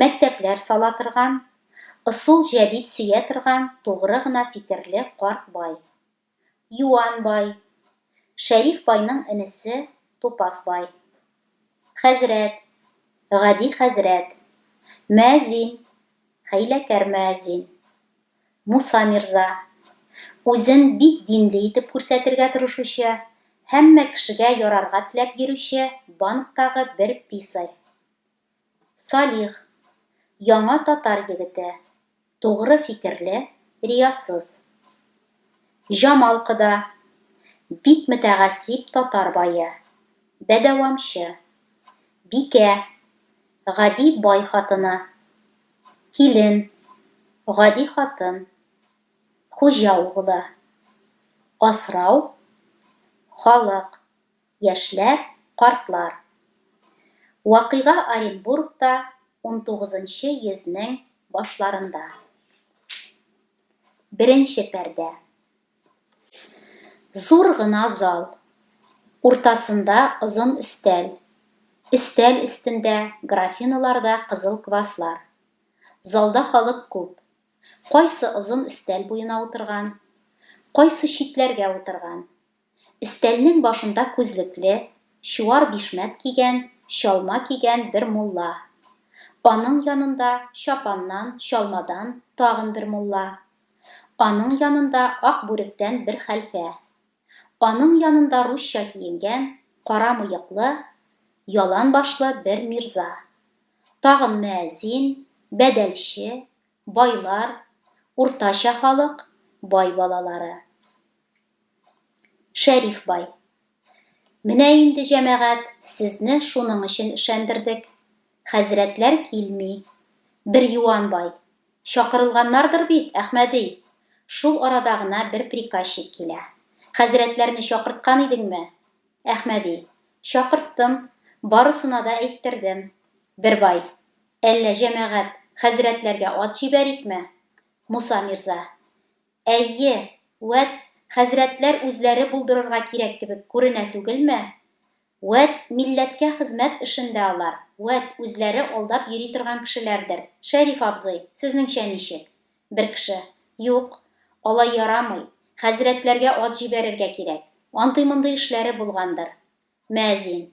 Мәктәпләр сала торган, ысул җәдит сөя торган тугры гына фикерле карт бай. Юан бай. Шәриф байның энесе Тупас бай. Хәзрәт. Гади хәзрәт. Мөәзин. Хәйләкәр мөәзин. Муса мирза. Үзен бик динле итеп күрсәтергә тырышучы, һәммә кешегә ярарга теләп йөрүче банктагы бер писарь. Салих, яңа татар егете, тугры фикерле, риясыз. Җамал кода, бик мөтәгассиб татар бае, бәдәвамчы. Бикә, гади бай хатыны. Килен, гади хатын. Хуҗа углы. Асрау, халык. яшьләр, картлар. Вакыйга Оренбургта унтугызынчы йөзнең башларында. Беренче пәрдә. Зур гына зал. Уртасында озын өстәл. Өстәл өстендә графиналарда кызыл кваслар. Залда халык күп. Кайсы озын өстәл буена утырган, кайсы читләргә утырган. Өстәлнең башында күзлекле, чуар бишмәт кигән, чалма кигән бер мулла. Аның янында, чапаннан, чалмадан, тагын бер мулла. Аның янында ак бүректән бер хәлфә. Аның янында русча киенгән, кара мыеклы, ялан башлы бер мирза. Тагын мөәзин, бәдәлче, байлар, уртача халык, бай балалары. Шәриф бай. Менә инде, җәмәгать, сезне шуның өчен эшәндердек. Хәзрәтләр килми. Бер юан бай. Чакырылганнардыр бит, Әхмәди? Шул арада гына бер приказчик килә. Хәзрәтләрне чакырткан идеңме? Әхмәди. Чакырттым. Барысына да әйттердем. Бер бай. Әллә, җәмәгать, хәзрәтләргә ат җибәрикме? Муса мирза. Әйе, вәт, хәзрәтләр үзләре булдырырга кирәк кебек күренә түгелме? Вәт, милләткә хезмәт эшендә алар, вәт, үзләре алдап йөри торган кешеләрдер. Шәриф абзый, сезнеңчә ничек? Бер кеше, Юк, алай ярамый, хәзрәтләргә ат җибәрергә кирәк. Андый-мондый эшләре булгандыр. Мәзин.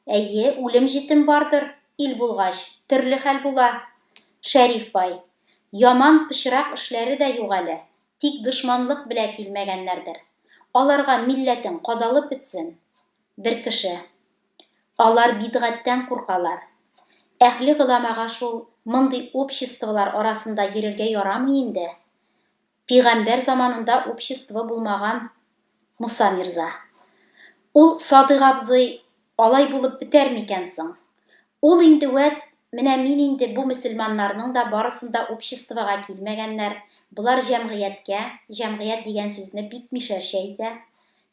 Әйе, үлем-җитем бардыр, ил булгач, төрле хәл була. Шәриф бай. Яман пычрак эшләре дә юк әле, тик дошманлык белә килмәгәннәрдер. Аларга милләтең кадалып бетсен. Бер кеше. Алар бидгатьтән куркалар. Әһле голамага шул мондый обществолар арасында йөрергә ярамый инде. Пигамбәр заманында общество булмаган Муса мирза. Ул Садыйк абзый алай булып бетәр микән соң? Ул инде вәт, менә мин инде бу мөселманнарның да барысын да обществога килмәгәннәр, болар җәмгыятькә, җәмгыять дигән сүзне бик мишәрчә әйтә,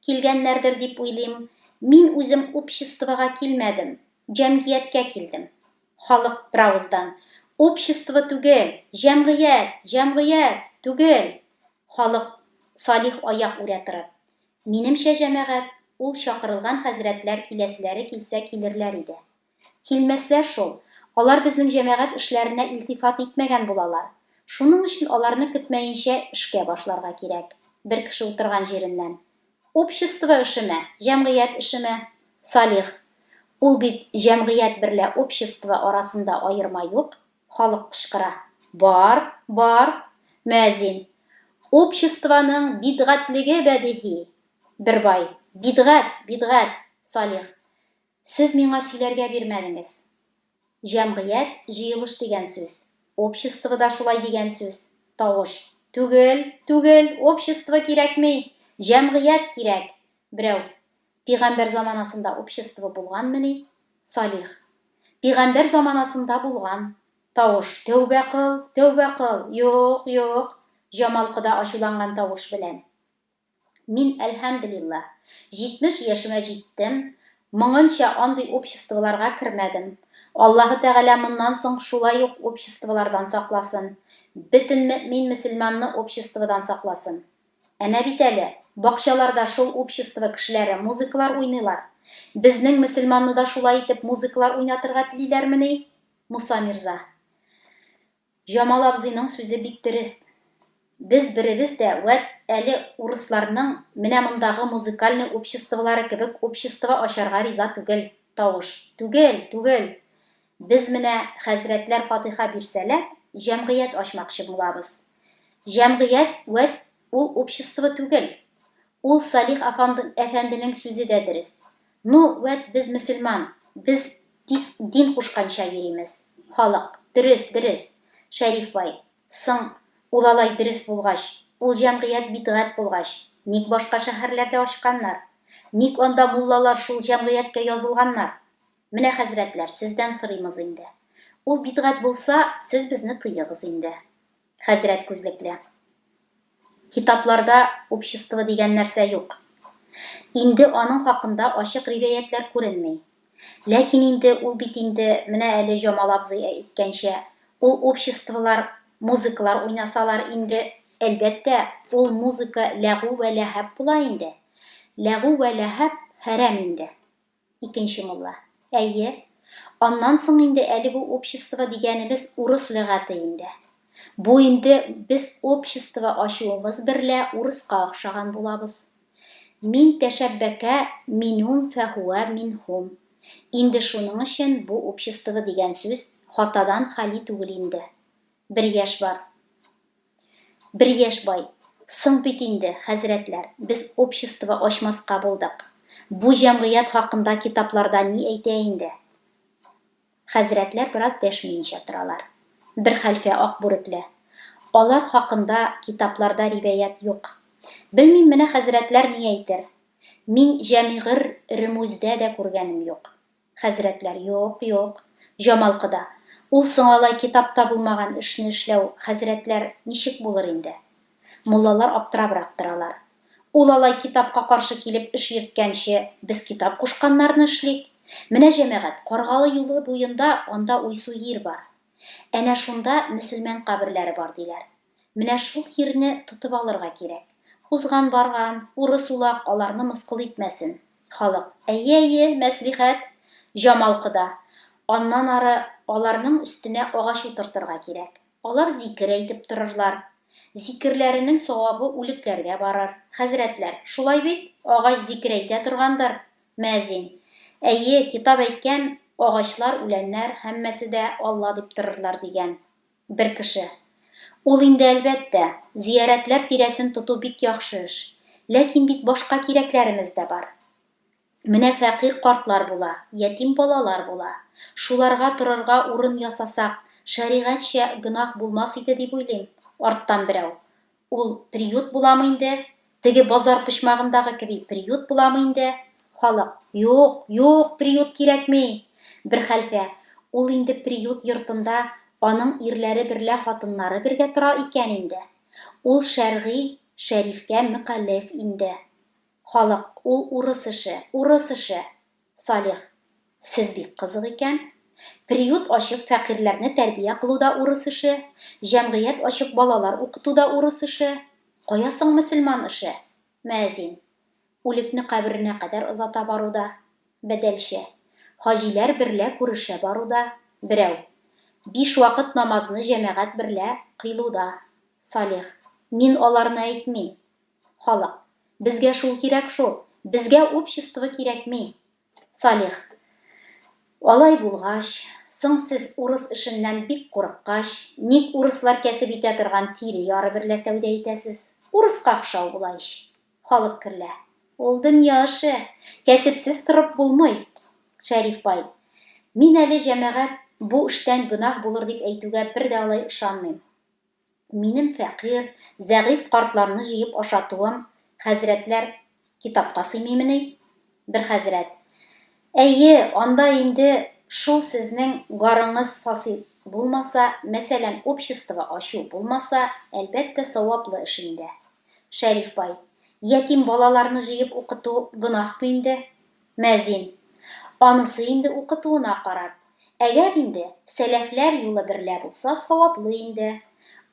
килгәннәрдер дип уйлыйм, мин үзем обществога килмәдем, җәмгияткә килдем. Халык беравыздан, Общество түгел, җәмгыять, җәмгыять, түгел! Халык Салих аяк үрә торып, Минемчә, җәмәгать, ул чакырылган хәзрәтләр киләселәре килсә килерләр иде. Килмәсләр шул, алар безнең җәмәгать эшләренә илтифат итмәгән булалар. Шуның өчен аларны көтмәенчә эшкә башларга кирәк. Бер кеше утырган җиреннән. Общество эшеме, җәмгыять эшеме? Салих, Ул бит җәмгыять берлә общество арасында аерма юк. Халык кычкыра. Бар, бар. Мөәзин, Обществоның бидгатьлеге бәдиһи. Бербай, Бидгать, бидгать. Салих, Сез миңа сөйләргә бирмәдеңез. Җәмгыять, җыелыш дигән сүз. Общество да шулай дигән сүз. Тавыш. Түгел, түгел, общество кирәкми! Җәмгыять кирәк! Берәү. Пигамбәр заманасында общество булганмени? Салих. Пигамбәр заманасында булган. Тавыш. Тәүбә кыл, тәүбә кыл! Юк, юк! Җамалкы да ачуланган тавыш белән. Мин, әлһәмделиллаһ, 70 яшемә җиттем, моңынча андый обществоларга кермәдем. Аллаһы Тәгалә моннан соң шулай ук обществолардан сакласын, бөтен мөэмин-мөселманны обществодан сакласын. Әнә бит әле, бакчаларда шул общество кешеләре музыкалар уйныйлар. Безнең мөселманны да шулай итеп музыкалар уйнатырга телиләрмени, Муса мирза? Җамал абзыйның сүзе бик дөрес. Без беребез дә вәт әле урысларның менә мондагы музыкальный обществолары кебек общество ачарга риза түгел, тавыш. Түгел, түгел! Без менә хәзрәтләр фатыйха бирсәләр, җәмгыять ачмакчы булабыз. Җәмгыять вәт ул общество түгел. Ул Салих әфәнденең сүзе дә дөрес. Ну, вәт без мөселман, без дис дин кушканча йөримез, халык. Дөрес, дөрес, Шәриф бай. Соң, ул алай дөрес булгач, ул җәмгыять бидгать булгач, ник башка шәһәрләрдә ачканнар? Ник анда муллалар шул җәмгыятькә язылганнар? Менә, хәзрәтләр, сездән сорыймыз инде. Ул бидгать булса, сез безне тыегыз инде. Хәзрәт күзлекле. Китапларда общество дигән нәрсә юк. Инде аның хакында ачык ривәятләр күренми. Ләкин инде ул бит инде, менә әле Җамал абзый әйткәнчә, ул обществолар, музыкалар уйнасалар инде, әлбәттә, ул музыка ләгу вә ләһаб була инде. Ләгу вә ләһаб хәрәм инде. Икенче мулла. Әйе. Аннан соң инде әле бу общество дигәнебез урыс лөгате инде. Бу инде без общество ачуыбыз берлә урыска охшаган булабыз. Мин тәшәббәкә минум фәһүә минһум. Инде шуның өчен бу общество дигән сүз хатадан хали түгел инде. Бер яшь бар. Бер яшь бай, Соң бит инде, хәзрәтләр, без общество ачмаска булдык. Бу җәмгыять хакында китапларда ни әйтә инде? Хәзрәтләр бераз дәшмиенчә торалар. Бер хәлфә ак бүрекле, Алар хакында китапларда ривәят юк. Белмим, менә хәзрәтләр ни әйтер. Мин җәмигыр ремүздә дә күргәнем юк. Хәзрәтләр, Юк, юк. Җамал кода, Ул соң алай китапта булмаган эшне эшләү, хәзрәтләр, ничек булыр инде? Муллалар аптырабрак торалар. Ул алай китапка каршы килеп эш йөрткәнче, без китап кушканнарны эшлик. Менә, җәмәгать, Каргалы юлы буенда анда уйсу йир бар. Әнә шунда мөселмән каберләре бар, диләр. Менә шул йирне тотып алырга кирәк. Узган барган, урыс улак аларны мыскыл итмәсен. Халык, Әйе, әйе, мәслихәт! Җамал кода, Аннан ары аларның өстенә агач утыртырга кирәк. Алар зикер әйтеп торырлар. Зикерләренең савабы үлекләргә барыр. Хәзрәтләр, шулай бит? Агач зикер әйтә торгандыр? Мәзин, Әйе, китап әйткән, агачлар, үләннәр, һәммәсе дә Алла дип торырлар, дигән. Бер кеше. Ул инде, әлбәттә, зиярәтләр тирәсен тоту бик яхшы эш. Ләкин бит башка кирәкләребез дә бар. Менә фәкыйрь картлар була, ятим балалар була. Шуларга торырга урын ясасак, шәригатьчә гөнаһ булмас иде дип уйлыйм, арттан берәү. Ул приют буламы инде? Теге базар почмагындагы кеби приют буламы инде? Халык, Юк, юк, приют кирәкми! Бер хәлфә, Ул инде приют йортында аның ирләре берлә хатыннары бергә тора икән инде. Ул шәргый шәрифкә мөкалләф инде. Халык, Ул урыс эше, урыс эше! Салих, сез бик кызык икән. Приют ачып фәкыйрьләрне тәрбия кылу да урыс эше, җәмгыять ачып балалар укыту да урыс эше. Кая соң мөселман эше? Мөәзин, үлекне каберенә кадәр озата бару да. Бәдәлче, хаҗиләр берлә күрешә бару да. Берәү, биш вакыт намазны җәмәгать берлә кыйлу да. Салих, мин аларны әйтмим. Халык. Безгә шул кирәк шул. Безгә общество кирәкми. Салих. Алай булгач, соң сез урыс эшеннән бик курыккач, ник урыслар кәсеп итә торган тире яры берлә сәүдә итәсез? Урыска охшау була ич. Халык керлә. Ул дөнья эше. Кәсепсез торып булмый. Шәриф бай. Мин әле, җәмәгать, бу эштән гөнаһ булыр дип әйтүгә бер дә алай ышанмыйм. Минем фәкыйрь, зәгыйфь картларны җыеп ашатуым, хәзрәтләр, китапка сыймыймыни? Бер хәзрәт, Әйе, анда инде шул сезнең гарыңыз фасил булмаса, мәсәлән, общество ачу булмаса, әлбәттә, саваплы эш инде. Шәриф бай, Ятим балаларны җыеп укыту гөнаһмы инде? Мәзин. Анысы инде укытуына карап. Әгәр инде сәләфләр юлы берлә булса, саваплы инде.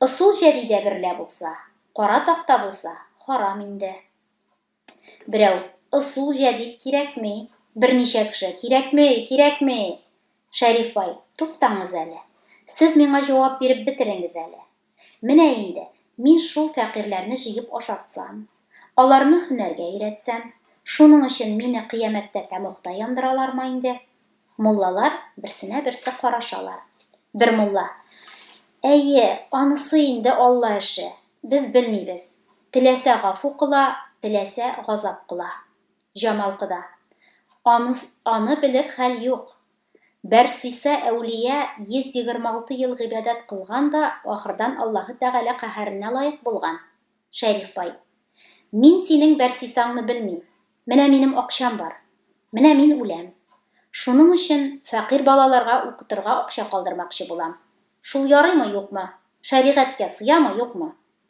Ысул җәдидә берлә булса, кара такта булса, харам инде. Берәү, Ысул җәдид кирәкми. Берничә кеше, Кирәкми, кирәкми! Шәриф бай, туктаңыз әле. Сез миңа җавап биреп бетереңез әле. Менә инде, мин шул фәкыйрьләрне җыеп ашатсам, аларны һөнәргә өйрәтсәм, шуның өчен мине кыямәттә тәмугта яндыралармы инде? Муллалар берсенә-берсе карашалар. Бер мулла, Әйе, анысы инде Алла эше, без белмибез. Теләсә гафу кыла, теләсә газап кыла. Җамал кода, Аныс, аны белер хәл юк. Бәрсиса әүлия 126 ел гыйбадәт кылган да, ахырдан Аллаһы Тәгалә каһәренә лаек булган. Шәриф бай. Мин синең Бәрсисаңны белмим. Менә минем акчам бар. Менә мин үләм. Шуның өчен фәкыйрь балаларга укытырга акча калдырмакчы булам. Шул ярыймы, юкмы? Шәригатькә сыямы, юкмы?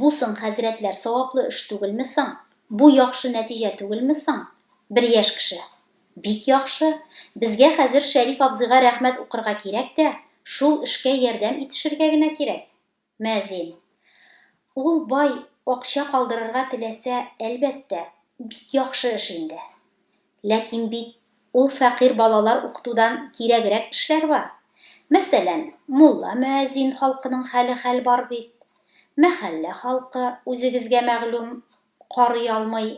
Бу соң, хәзрәтләр, саваплы эш түгелме соң? Бу яхшы нәтиҗә түгелме соң? Бер яшь кеше. Бик яхшы. Безгә хәзер Шәриф абзыйга рәхмәт укырга кирәк тә, шул эшкә ярдәм итешергә генә кирәк. Мөәзин. Ул бай акча калдырырга теләсә, әлбәттә. Бик яхшы эш инде. Ләкин бит ул фәкыйрь балалар укытудан кирәгрәк эшләр бар. Мәсәлән, мулла-мөәзин халкының хәле хәл бар бит. Мәхәллә халкы, үзегезгә мәгълүм, карый алмый.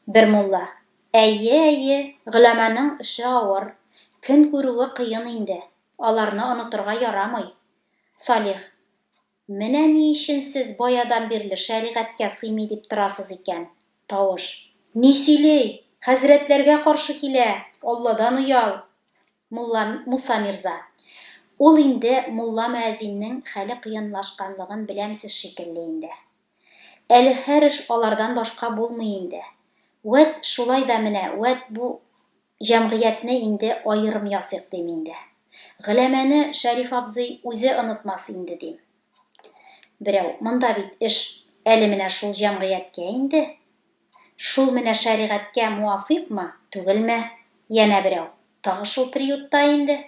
Бер мулла, Әйе, әйе, голәманың эше авыр, көн күрүе кыен инде, аларны онытырга ярамый. Салих, Менә ни өчен сез баядан бирле шәригатькә сыймый дип торасыз икән. Тавыш. Ни сөйли? Хәзрәтләргә каршы килә! Алладан оял! Мулла, Муса мирза. Ул инде мулла-мөәзиннең хәле кыенлашканлыгын беләмсез шикелле инде. Әле һәр эш алардан башка булмый инде. Вәт, шулай да менә, вәт, бу җәмгыятьне инде аерым ясыйк, дим инде. Гөләмәне Шәриф абзый үзе онытмас инде, дим. Берәү, Монда бит эш әле менә шул җәмгыятькә инде. Шул менә шәригатькә муафыйкмы, түгелме? Янә берәү, Тагы шул приютта инде.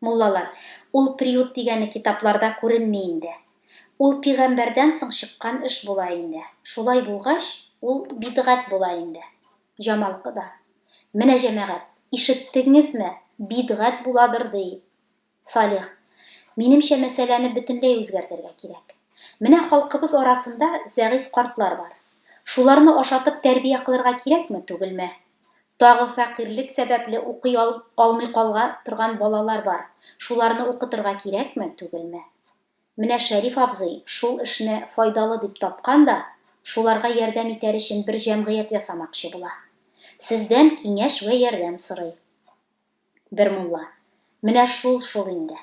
Муллалар, Ул приют дигәне китапларда күренми инде. Ул пигамбәрдән соң чыккан эш була инде. Шулай булгач, ул бидгать була инде. Җамал кода, Менә җәмәгать, ишеттегңезме, бидгать буладыр, ди. Салих, Минемчә, мәсьәләне бөтенләй үзгәртергә кирәк. Менә халкыбыз арасында зәгыйфь картлар бар. Шуларны ашатып тәрбия кылырга кирәкме, түгелме? Тагы фәкыйрьлек сәбәпле укый алмый калга торган балалар бар. Шуларны укытырга кирәкме, түгелме? Менә Шәриф абзый шул эшне файдалы дип тапкан да, шуларга ярдәм итәр өчен бер җәмгыять ясамакчы була. Сездән киңәш вә ярдәм сорый. Бер мулла, Менә шул шул инде.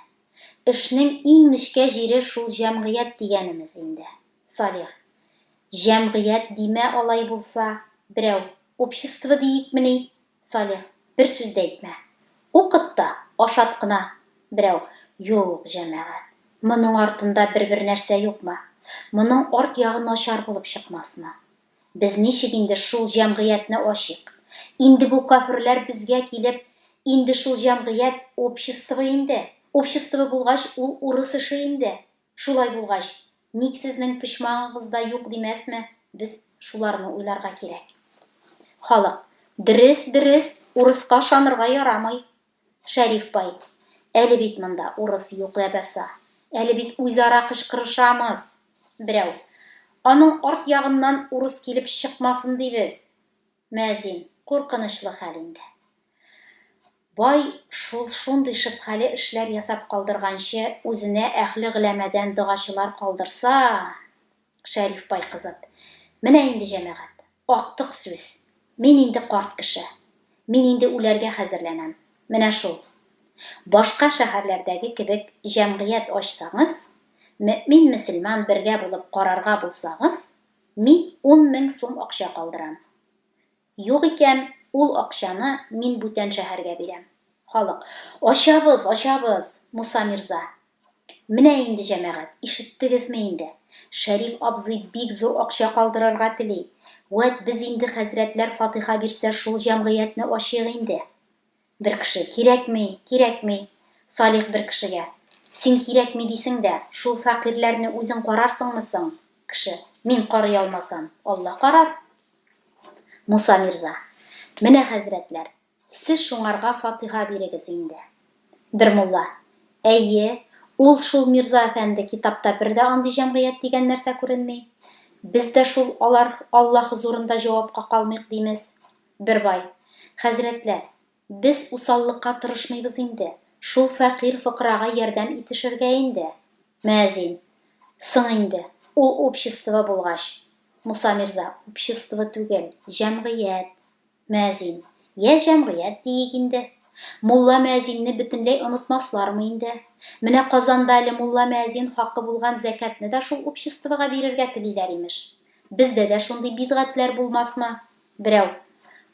Эшнең иң нечкә җире шул җәмгыять дигәнемез инде, Салих. Җәмгыять димә алай булса, берәү, общество диикмени? Салих, Бер сүз дә әйтмә. Укыт та, ашат кына. Берәү, Юк, җәмәгать. Моның артында бер-бер нәрсә юкмы? Моның арт ягы начар булып чыкмасмы? Без ничек инде шул җәмгыятьне ачыйк? Инде бу каферләр безгә килеп, инде шул җәмгыять, общество инде. Общество булгач, ул урыс эше инде. Шулай булгач, ник сезнең почмагыгыз да юк димәсме? Без шуларны уйларга кирәк. Халык, Дөрес, дөрес, урыска ышанырга ярамый. Шәриф бай, Әле бит монда урыс юк ләбаса, әле бит үзара кычкырышамыз! Берәү, Аның арт ягыннан урыс килеп чыкмасын дибез! Мәзин, Куркынычлы хәл инде. Бай шул шундый шөбһәле эшләр ясап калдырганчы, үзенә әһле гөләмәдән догачылар калдырса! Шәриф бай кызып. Менә инде, җәмәгать, актык сүз. Мин инде карт кеше. Мин инде үләргә хәзерләнәм. Менә шул. Башка шәһәрләрдәге кебек җәмгыять ачсагыз, мөэмин-мөселман бергә булып карарга булсагыз, мин ун мең сум акча калдырам. Юк икән, ул акчаны мин бүтән шәһәргә бирәм. Халык. Ачабыз, ачабыз, Муса мирза! Менә инде, җәмәгать, ишеттегезме инде? Шәриф абзый бик зур акча калдырырга тели. Вәт без инде хәзрәтләр фатыйха бирсә шул җәмгыятьне ачыйк инде. Бер кеше, Кирәкми, кирәкми. Салих бер кешегә, Син кирәкми дисең дә, шул фәкыйрьләрне үзең карарсыңмы соң? Кеше, Мин карый алмасам, Алла карар. Муса мирза, Менә, хәзрәтләр, сез шуңарга фатиха бирегез инде. Бер мулла, Әйе, ул шул мирза әфәнде, китапта бер дә андый җәмгыять дигән нәрсә күренми. Без дә шул алар Алла хозурында җавапка калмыйк, димез. Бер бай, Хәзрәтләр, без усаллыкка тырышмыйбыз инде, шул фәкыйрь-фокырага ярдәм итешергә инде. Мөәзин, Соң инде, ул общество булгач. Муса мирза, Общество түгел, җәмгыять. Мөәзин, Йә, җәмгыять диик инде. Мулла-мөәзинне бөтенләй онытмаслармы инде? Менә Казанда әле мулла-мөәзин хакы булган зәкятне дә шул обществога бирергә телиләр, имеш. Бездә дә шундый бидгатьләр булмасмы? Берәү,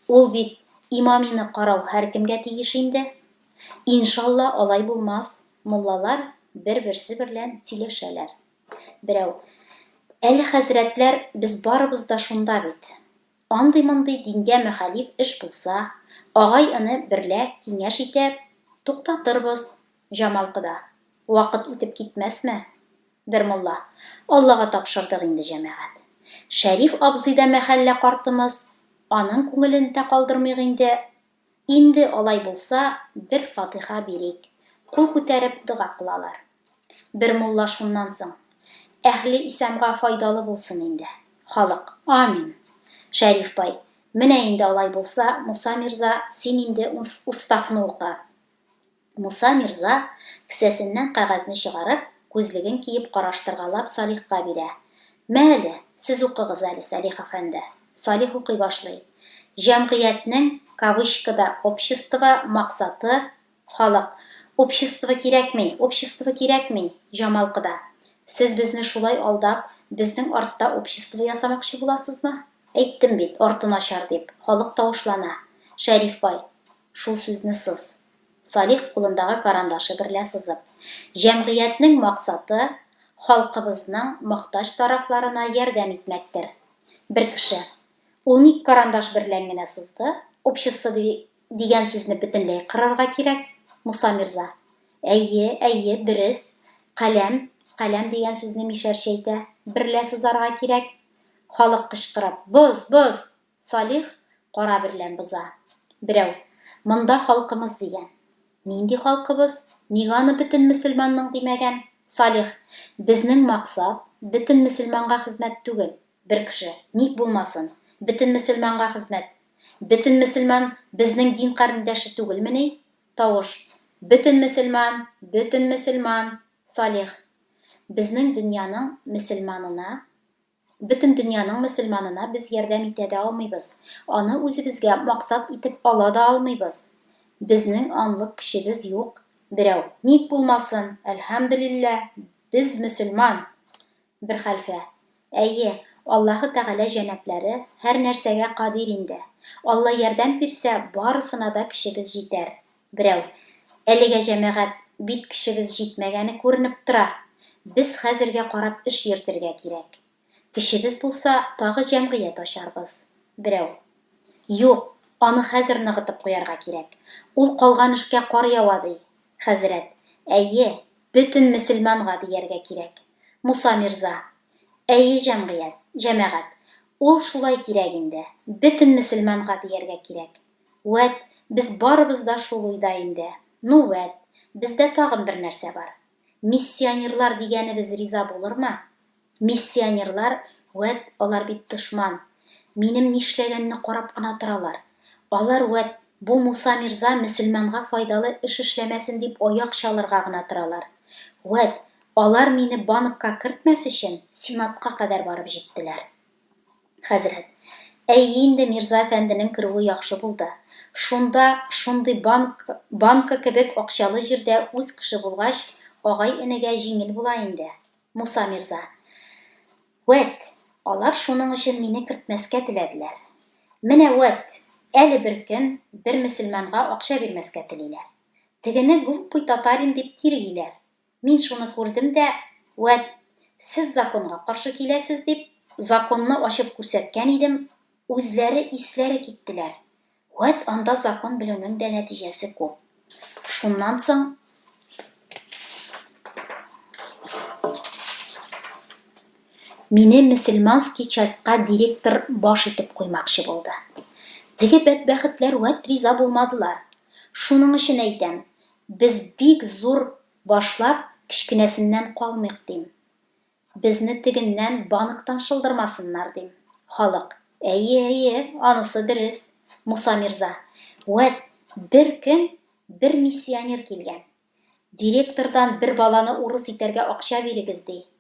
Ул бит имамины карау һәркемгә тиеш инде. Иншалла алай булмас, муллалар бер-берсе берлән сөйләшәләр. Берәү, Әле хәзрәтләр без барыбыз да шунда бит. Андый-мондый дингә мөхәлиф эш булса, агай-эне берлә киңәш итәр, туктатырбыз, Җамал кода. Вакыт үтеп китмәсме? Бер мулла. Аллага тапшырдык инде, җәмәгать. Шәриф абзый да мәхәллә картымыз, аның күңелен тә калдырмыйк инде. Инде алай булса, бер фатыйха бирик. Кул күтәреп дога кылалар. Бер мулла шуннан соң. Әһле исәмга файдалы булсын инде. Халык. Амин. Шәриф бай. Менә инде алай булса, Муса мирза, син инде устафны укы. Муса мирза, кесәсеннән кәгазьне чыгарып, күзлеген киеп караштыргалап Салихка бирә. Мә әле, сез укыгыз әле, Салих әфәнде. Салих укый башлый. Җәмгыятьнең, кавычкада, общество, максаты, халык. Общество кирәкми, общество кирәкми, Җамалкыда. Сез безне шулай алдап, безнең артта общество ясамакчы буласызмы? Әйттем бит, арты начар дип. Халык тавышлана. Шәриф бай, шул сүзне сыз. Салих кулындагы карандашы берлә сызып. Җәмгыятьнең максаты, халкыбызның мохтаҗ тарафларына ярдәм итмәктер. Бер кеше. Ул ник карандаш берлән генә сызды? Общество дигән сүзне бөтенләй кырырга кирәк, Муса мирза. Әйе, әйе, дөрес. Каләм, каләм дигән сүзне мишәрчәйтә берлә сызарга кирәк. Халык кычкырып, Боз, боз! Салих кара берлән боза. Берәү, Монда халкымыз дигән. Нинди халкыбыз? Ник аны бөтен мөселманның димәгән? Салих, Безнең максат, бөтен мөселманга хезмәт түгел. Бер кеше, Ник булмасын? Бөтен мөселманга хезмәт. Бөтен мөселман безнең дин карендәше түгелмени? Тавыш, Бөтен мөселман, бөтен мөселман! Салих, Безнең дөньяның мөселманына Бөтен дөньяның мөселманына без ярдәм итә дә алмыйбыз, аны үзебезгә максат итеп ала да алмыйбыз. Безнең анлык кешебез юк. Берәү, Ник булмасын, әлхәмдүлиллә, без мөселман! Бер хәлфә, Әйе, Аллаһы Тәгалә җәнаплары һәрнәрсәгә кадир инде. Алла ярдәм бирсә, барысына да көчебез җитәр, Берәү, Әлегә җәмәгать бит кешебез җитмәгәне күренеп тора. Без хәзергә карап эш йөртергә кирәк. Кешебез булса, тагы җәмгыять ачарбыз. Берәү, Юк, аны хәзер ныгытып куярга кирәк. Ул калган эшкә кар ява, ди. Хәзрәт, Әйе, бөтен мөселманга дияргә кирәк. Муса мирза, Әйе, җәмгыять, җәмәгать, ул шулай кирәк инде, бөтен мөселманга дияргә кирәк. Вәт, без барыбыз да шул уйда инде. Ну, вәт, бездә тагын бер нәрсә бар. Миссионерлар дигәнебез риза булырмы? Миссионерлар, вәт, алар бит дошман. Минем нишләгәнне карап кына торалар. Алар, вәт, бу Муса мирза мөселманга файдалы эш эшләмәсен дип аяк чалырга гына торалар. Вәт, алар мине банкка кертмәс өчен, сенатка кадәр барып җиттеләр. Хәзрәт. Әйе инде, Мирза әфәнденең керүе яхшы булды. Шунда, шундый банк, банка кебек акчалы җирдә үз кеше булгач, агай-энегә җиңел була инде. Муса мирза. Вәт, алар шуның өчен мине кертмәскә теләделәр. Менә вәт, әле бер көн бер мөселманга акча бирмәскә телиләр. Тегене глупый татарин дип тиргиләр. Мин шуны күрдем дә, вәт, сез законга каршы киләсез, дип, законны ачып күрсәткән идем, үзләре исләре киттеләр. Вәт, анда закон белүнең дә нәтиҗәсе күп. Шуннан соң. Мине мөселманский частька директор баш итеп куймакчы булды. Теге бәдбәхетләр вәт риза булмадылар. Шуның өчен әйтәм, Без бик зур башлап, кечкенәсеннән калмыйк, дим. Безне тегеннән банктан шылдырмасыннар, дим. Халык, Әйе, әйе, анысы дөрес. Муса мирза, Вәт, бер көн бер миссионер килгән. Директордан бер баланы урыс итәргә акча бирегез, ди.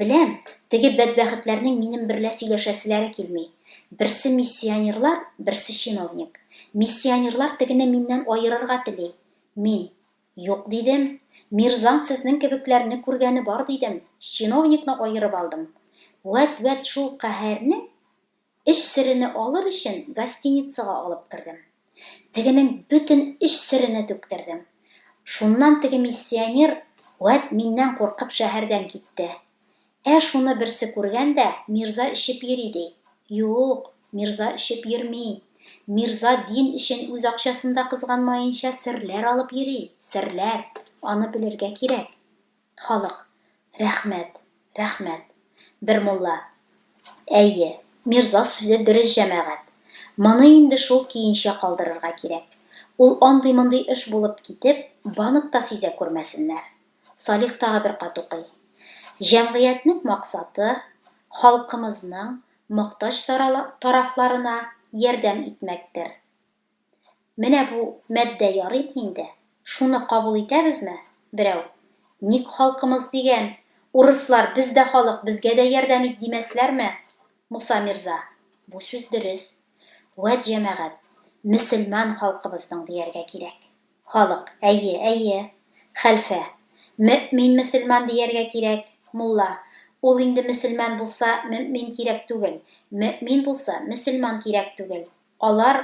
Беләм, теге бәдбәхетләрнең минем берлә сөйләшәселәре килми. Берсе миссионерлар, берсе чиновник. Миссионерлар тегене миннән аерырга тели. Мин, Юк, дидем. Мирзан сезнең кебекләрне күргәне бар, дидем. Чиновникны аерып алдым. Вәт-вәт шул каһәрнең Эш серене алыр өчен гостиницага алып кердем. Тегенең бөтен эш серене түктердем. Шуннан теге миссионер вәт миннән куркып шәһәрдән китте. Ә шуны берсе күргән дә, мирза эчеп йөри, ди. Юк, мирза эчеп йөрми. Мирза дин өчен үз акчасын да кызганмаенча серләр алып йөри, серләр. Аны белергә кирәк. Халык. Рәхмәт, рәхмәт. Бер мулла. Әйе, мирза сүзе дөрес җәмәгать. Моны инде шул көенчә калдырырга кирәк. Ул андый-мондый эш булып китеп, банк та сизә күрмәсеннәр. Салих тагы бер кат укый. Җәмгыятьнең максаты, халкымызның мохтаҗ тарафларына ярдәм итмәктер. Менә бу матдә ярыймы инде? Шуны кабул итәбезме? Берәү, Ник халкымыз дигән, урыслар без дә халык, безгә дә ярдәм ит, димәсләрме? Муса мирза, Бу сүз дөрес. Вәт җәмәгать, мөселман халкыбызның дияргә кирәк. Халык, Әйе, әйе. Хәлфә, Мөэмин мөселман дияргә кирәк. Мулла, Ул инде мөселман булса, мөэмин кирәк түгел, мөэмин булса, мөселман кирәк түгел. Алар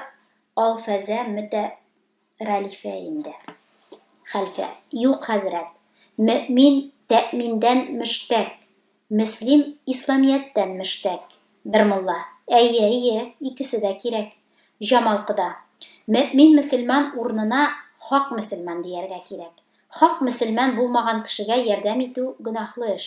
Алфәзә Мөтәрәлифә инде. Хәлфә. Юк, хәзрәт. Мөэмин тәэминдән мөштәк, мөслим исламияттән мөштәк. Бер мулла. Әйе, әйе, икесе дә кирәк. Җамал кода. Мөэмин мөселман урынына хак мөселман дияргә кирәк. Хак мөселман булмаган кешегә ярдәм итү гөнаһлы эш.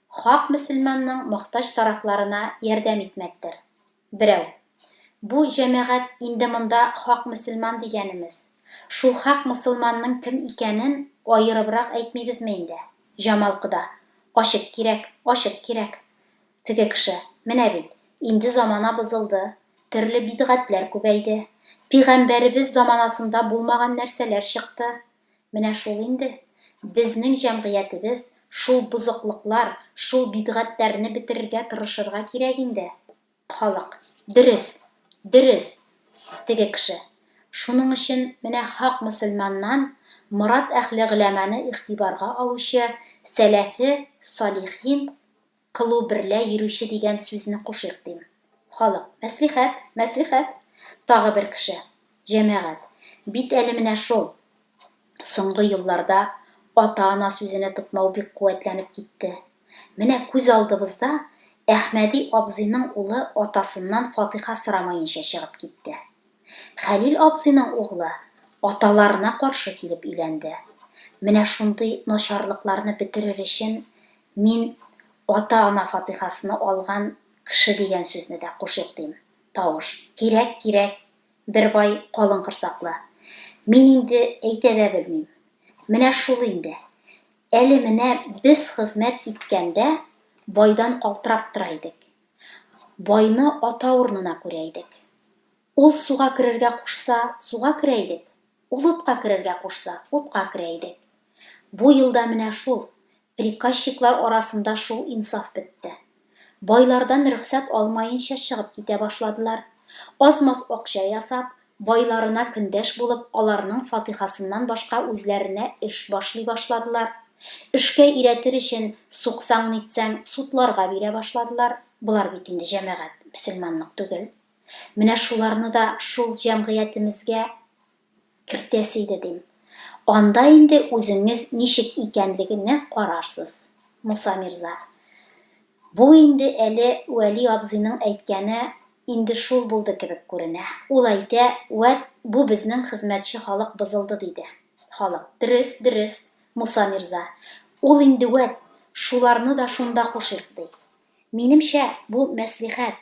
Хак мөселманның мохтаҗ тарафларына ярдәм итмәктер. Берәү. Бу җәмәгать инде монда хак мөселман дигәнемез. Шул хак мосылманның кем икәнен аерыбрак әйтмибезме инде? Җамал кода. Ачык кирәк, ачык кирәк. Теге кеше. Менә бит, инде замана бозылды, төрле бидгатьләр күбәйде. Пигамбәребез заманасында булмаган нәрсәләр чыкты. Менә шул инде. Безнең җәмгыятебез шул бозыклыклар, шул бидгатьләрне бетерергә тырышырга кирәк инде. Халык, Дөрес! Дөрес! Теге кеше. Шуның өчен менә хак мөселманнан Морат әхле гөләманы игътибарга алучы сәләфе салихин, Кылу берлә йөрүче дигән сүзне кушыйк, дим. Халык, Мәслихәт! Мәслихәт! Тагы бер кеше, Җәмәгать! Бит әле менә шул! Соңгы елларда ата-ана сүзенә тотмау бик куәтләнеп китте. Менә күз алдыбызда Әхмәди абзыйның улы атасыннан фатыйха сорамаенча чыгып китте. Хәлил абзыйның углы аталарына каршы килеп өйләнде. Менә шундый начарлыкларны бетерер өчен Мин ата-ана фатыйхасыны алган кеше дигән сүзне дә кушыйкдим. Тавыш. Кирәк, кирәк, бер бай калын корсаклы. Мин инде әйтә дә белмим. Менә шул инде. Әле менә без хезмәт иткәндә байдан калтырап тора идек. Байны ата урынына күрә идек. Ул суга керергә кушса, суга керә идек, ул утка керергә кушса, утка керә идек. Бу елда менә шул, приказчиклар арасында шул инсаф бетте. Байлардан рөхсәт алмаенча чыгып китә башладылар. Аз-маз акча ясап, байларына көндәш булып, аларның фатихасыннан башка үзләренә эш башлый башладылар. Эшкә өйрәтер өчен, суксаң-нитсәң, судларга бирә башладылар. Болар бит инде җәмәгать, мөселманлык түгел. Менә шуларны да шул җәмгыятемезгә кертәсе иде, дим. Анда инде үзеңез ничек икәнлегенә карарсыз, Муса мирза. Бу инде әле Вәли абзыйның әйткәне инде шул булды кебек күренә. Ул әйтә, Вәт, бу безнең хезмәтче халык бозылды, диде. Халык, Дөрес, дөрес, Муса мирза. Ул инде вәт, шуларны да шунда кушыйк, ди. Минемчә, бу мәслихәт,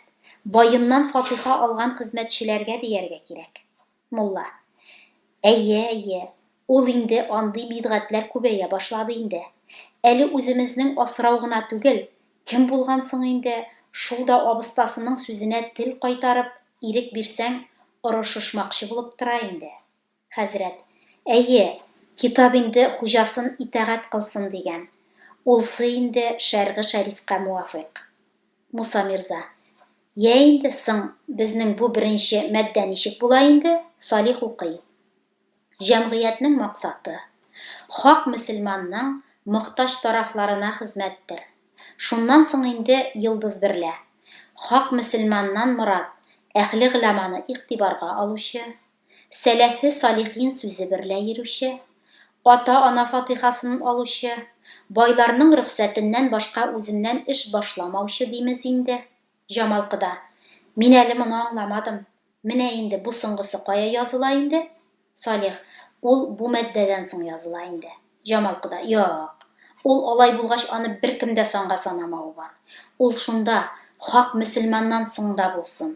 баеннан фатыйха алган хезмәтчеләргә дияргә кирәк. Мулла. Әйе, әйе, ул инде андый бидгатьләр күбәя башлады инде. Әле үземезнең асрау гына түгел, кем булган соң инде, шул да абыстасының сүзенә тел кайтарып, ирек бирсәң, орышышмакчы булып тора инде. Хәзрәт, Әйе, китап инде хуҗасын итәгать кылсын дигән. Ул сый инде шәргы шәрифкә муафыйк. Муса мирза, Йә инде, соң, безнең бу беренче маддә ничек була инде? Салих укый. Җәмгыятьнең максаты, хак мөселманның мохтаҗ тарафларына хезмәттер. Шуннан соң инде йолдыз берлә. Хак мөселманнан морад, әхле гыламаны игътибарга алучы. сәләфе-салихин сүзе берлә йөрүче, ата-ана фатыйхасын алучы, байларның рөхсәтеннән башка үзеннән эш башламаучы димез инде. Җамалкыда, Мин әле моны аңламадым. Менә инде бу соңгысы кая языла инде? Салих, Ул бу маддәдән соң языла инде. Җамалкыда, Юк. Ул алай булгач аны беркем дә санга санамавы бар. Ул шунда, хак мөселманнан соң да булсын.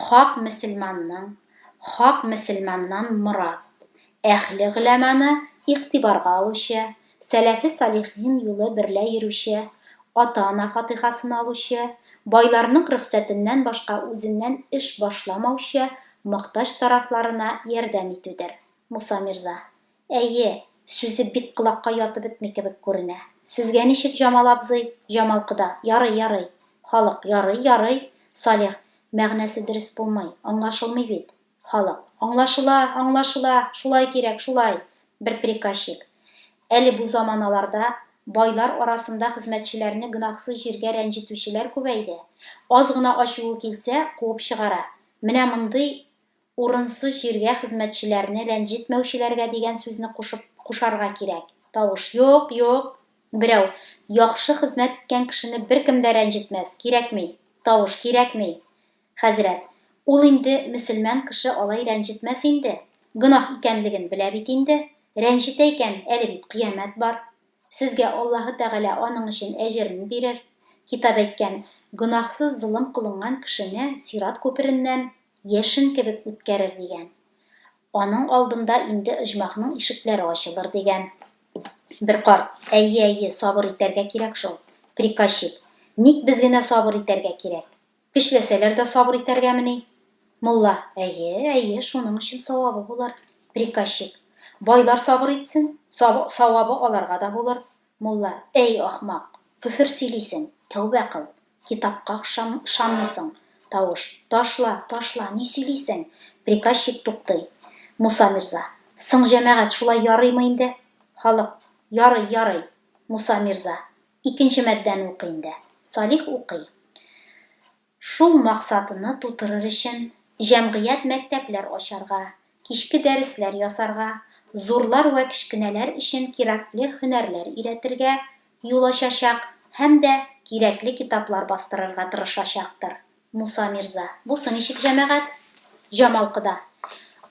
Хак мөселманның, хак мөселманнан морад, әһле гөләманы игътибарга алучы, сәләфе салихин юлы берлә йөрүче, ата-ана фатыйхасын алучы, байларның рөхсәтеннән башка үзеннән эш башламаучы, мохтаҗ тарафларына ярдәм итүдер. Муса мирза. Әйе, сүзе бик колакка ятып бетми кебек күренә. Сезгә ничек, Җамал абзый? Җамал кода, Ярый, ярый. Халык, Ярый, ярый. Салих, Мәгънәсе дөрес булмый, аңлашылмый бит. Халык, Аңлашыла, аңлашыла, шулай кирәк, шулай. Бер приказчик. Әле бу заманаларда байлар арасында хезмәтчеләрне гөнаһсыз җиргә рәнҗетүчеләр күбәйде. Аз гына ачуы килсә, куып чыгара. Менә мондый Урынсыз җиргә хезмәтчеләрне рәнҗетмәүчеләргә дигән сүзне кушып кушарга кирәк. Тавыш, Юк, юк. Берәү, Яхшы хезмәт иткән кешене беркем дә рәнҗетмәс, кирәкми. Тавыш, Кирәкми. Хәзрәт, Ул инде мөселман кеше алай рәнҗетмәс инде. Гөнаһ икәнлеген белә бит инде. Рәнҗетә икән, әле бит кыямәт бар. Сезгә Аллаһы Тәгалә аның өчен әҗерен бирер. Китап әйткән, Гөнаһсыз золым кылынган кешене сират күпереннән яшен кебек үткәрер, дигән. Аның алдында инде оҗмахның ишекләре ачылыр, дигән. Бер карт, Әйе, әйе, сабыр итәргә кирәк шул, приказчик. Ник без генә сабыр итәргә кирәк? Тешләсәләр дә сабыр итәргәмени? Мулла, Әйе, әйе, шуның өчен савабы булыр. Приказчик, Байлар сабыр итсен, савабы аларга да булыр. Мулла, Әй, ахмак, көфер сөйлисең, тәүбә кыл. Китапка ышанмыйсың. Тавыш, Ташла, ташла, ни сөйлисең? Приказчик туктый. Муса мирза, Соң, җәмәгать, шулай ярыймы инде? Халык, Ярый, ярый. Муса мирза, Икенче маддәне укый инде. Салих укый. Шул максатыны тутырыр өчен, җәмгыять мәктәпләр ачарга, кичке дәресләр ясарга, зурлар вә кечкенәләр өчен кирәкле һөнәрләр өйрәтергә юл ачачак һәм дә кирәкле китаплар бастырырга тырышачактыр. Муса мирза. Бусы ничек, җәмәгать? Җамал кода.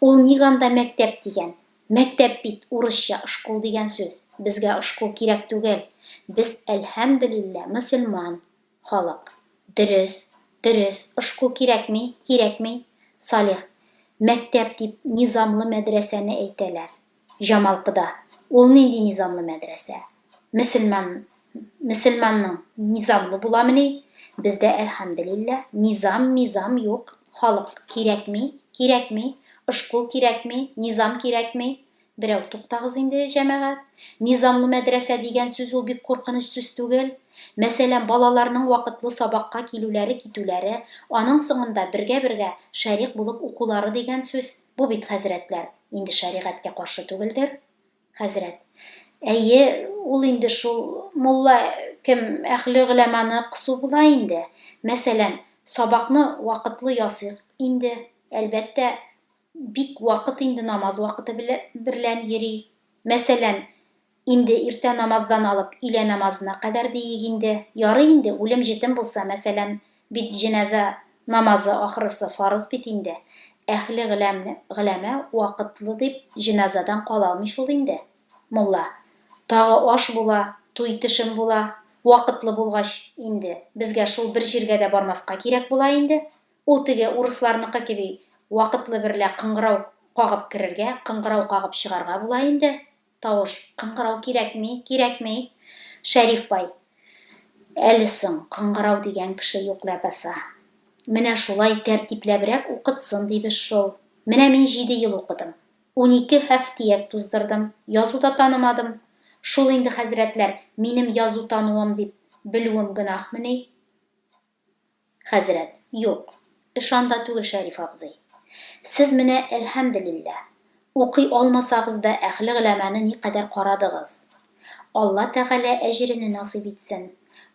Ул ник анда мәктәп дигән? Мәктәп бит урысча шкул дигән сүз, безгә шкул кирәк түгел, без әлһәмдөлиллә мөселман халык. Дөрес, дөрес, шкул кирәкми, кирәкми. Салих, мәктәп дип низамлы мәдрәсәне әйтәләр. Җамалкыда, ул нинди низамлы мәдрәсә? Мөселман мөселманның низамлы буламыни? Бездә, әлхәмделилла, низам, мизам юк. Халык кирәкми, кирәкми, ошкул кирәкми, низам кирәкми. Берәү туктагыз инде, җәмәгать. Низамлы мәдрәсә дигән сүз ул бик куркыныч сүз түгел. Мәсәлән, балаларның вакытлы сабакка килүләре, китүләре, аның соңында бергә-бергә шәрикъ булып укулары дигән сүз, бу бит, хәзрәтләр, инде шәригатькә каршы түгелдер? Хәзрәт. Әйе, ул инде шул, мулла кем, әһле гөләманы кысу була инде. Мәсәлән, сабакны вакытлы ясыйк инде, әлбәттә, бик вакыт инде намаз вакыты берлән йөри. Мәсәлән, инде иртә намаздан алып өйлә намазына кадәр диик инде. Ярый инде, үлем-җетем булса, мәсәлән, Бит җеназа намазы ахрысы фарыз бит инде, әхле гыләмне, гыләмә вакытлы дип җеназадан калалмый шул инде, мулла. Тагы аш була, туй-төшем була, вакытлы булгач инде, безгә шул бер җиргә дә бармаска кирәк була инде. Ул теге урысларныкы кеби вакытлы берлә кыңгырау кагып керергә, кыңгырау кагып чыгарга була инде. Тавыш, кыңгырау кирәкми, кирәкми! Шәриф бай. Әле соң, кыңгырау дигән кеше юк ләбаса. Менә шулай тәртипләбрәк укытсын дибез шул. Менә мин җиде ел укыдым. Унике һәфтияк туздырдым, язу да танымадым. Шул инде, хәзрәтләр, минем язу тануым дип белүем гөнаһмени? Хәзрәт, Юк, эш анда түгел, Шәриф абзый. Сез менә, әлһәмделилләһ, укый алмасагыз да әһле гөләманы никадәр карадыгыз. Алла Тәгалә әҗерене насыйп итсен.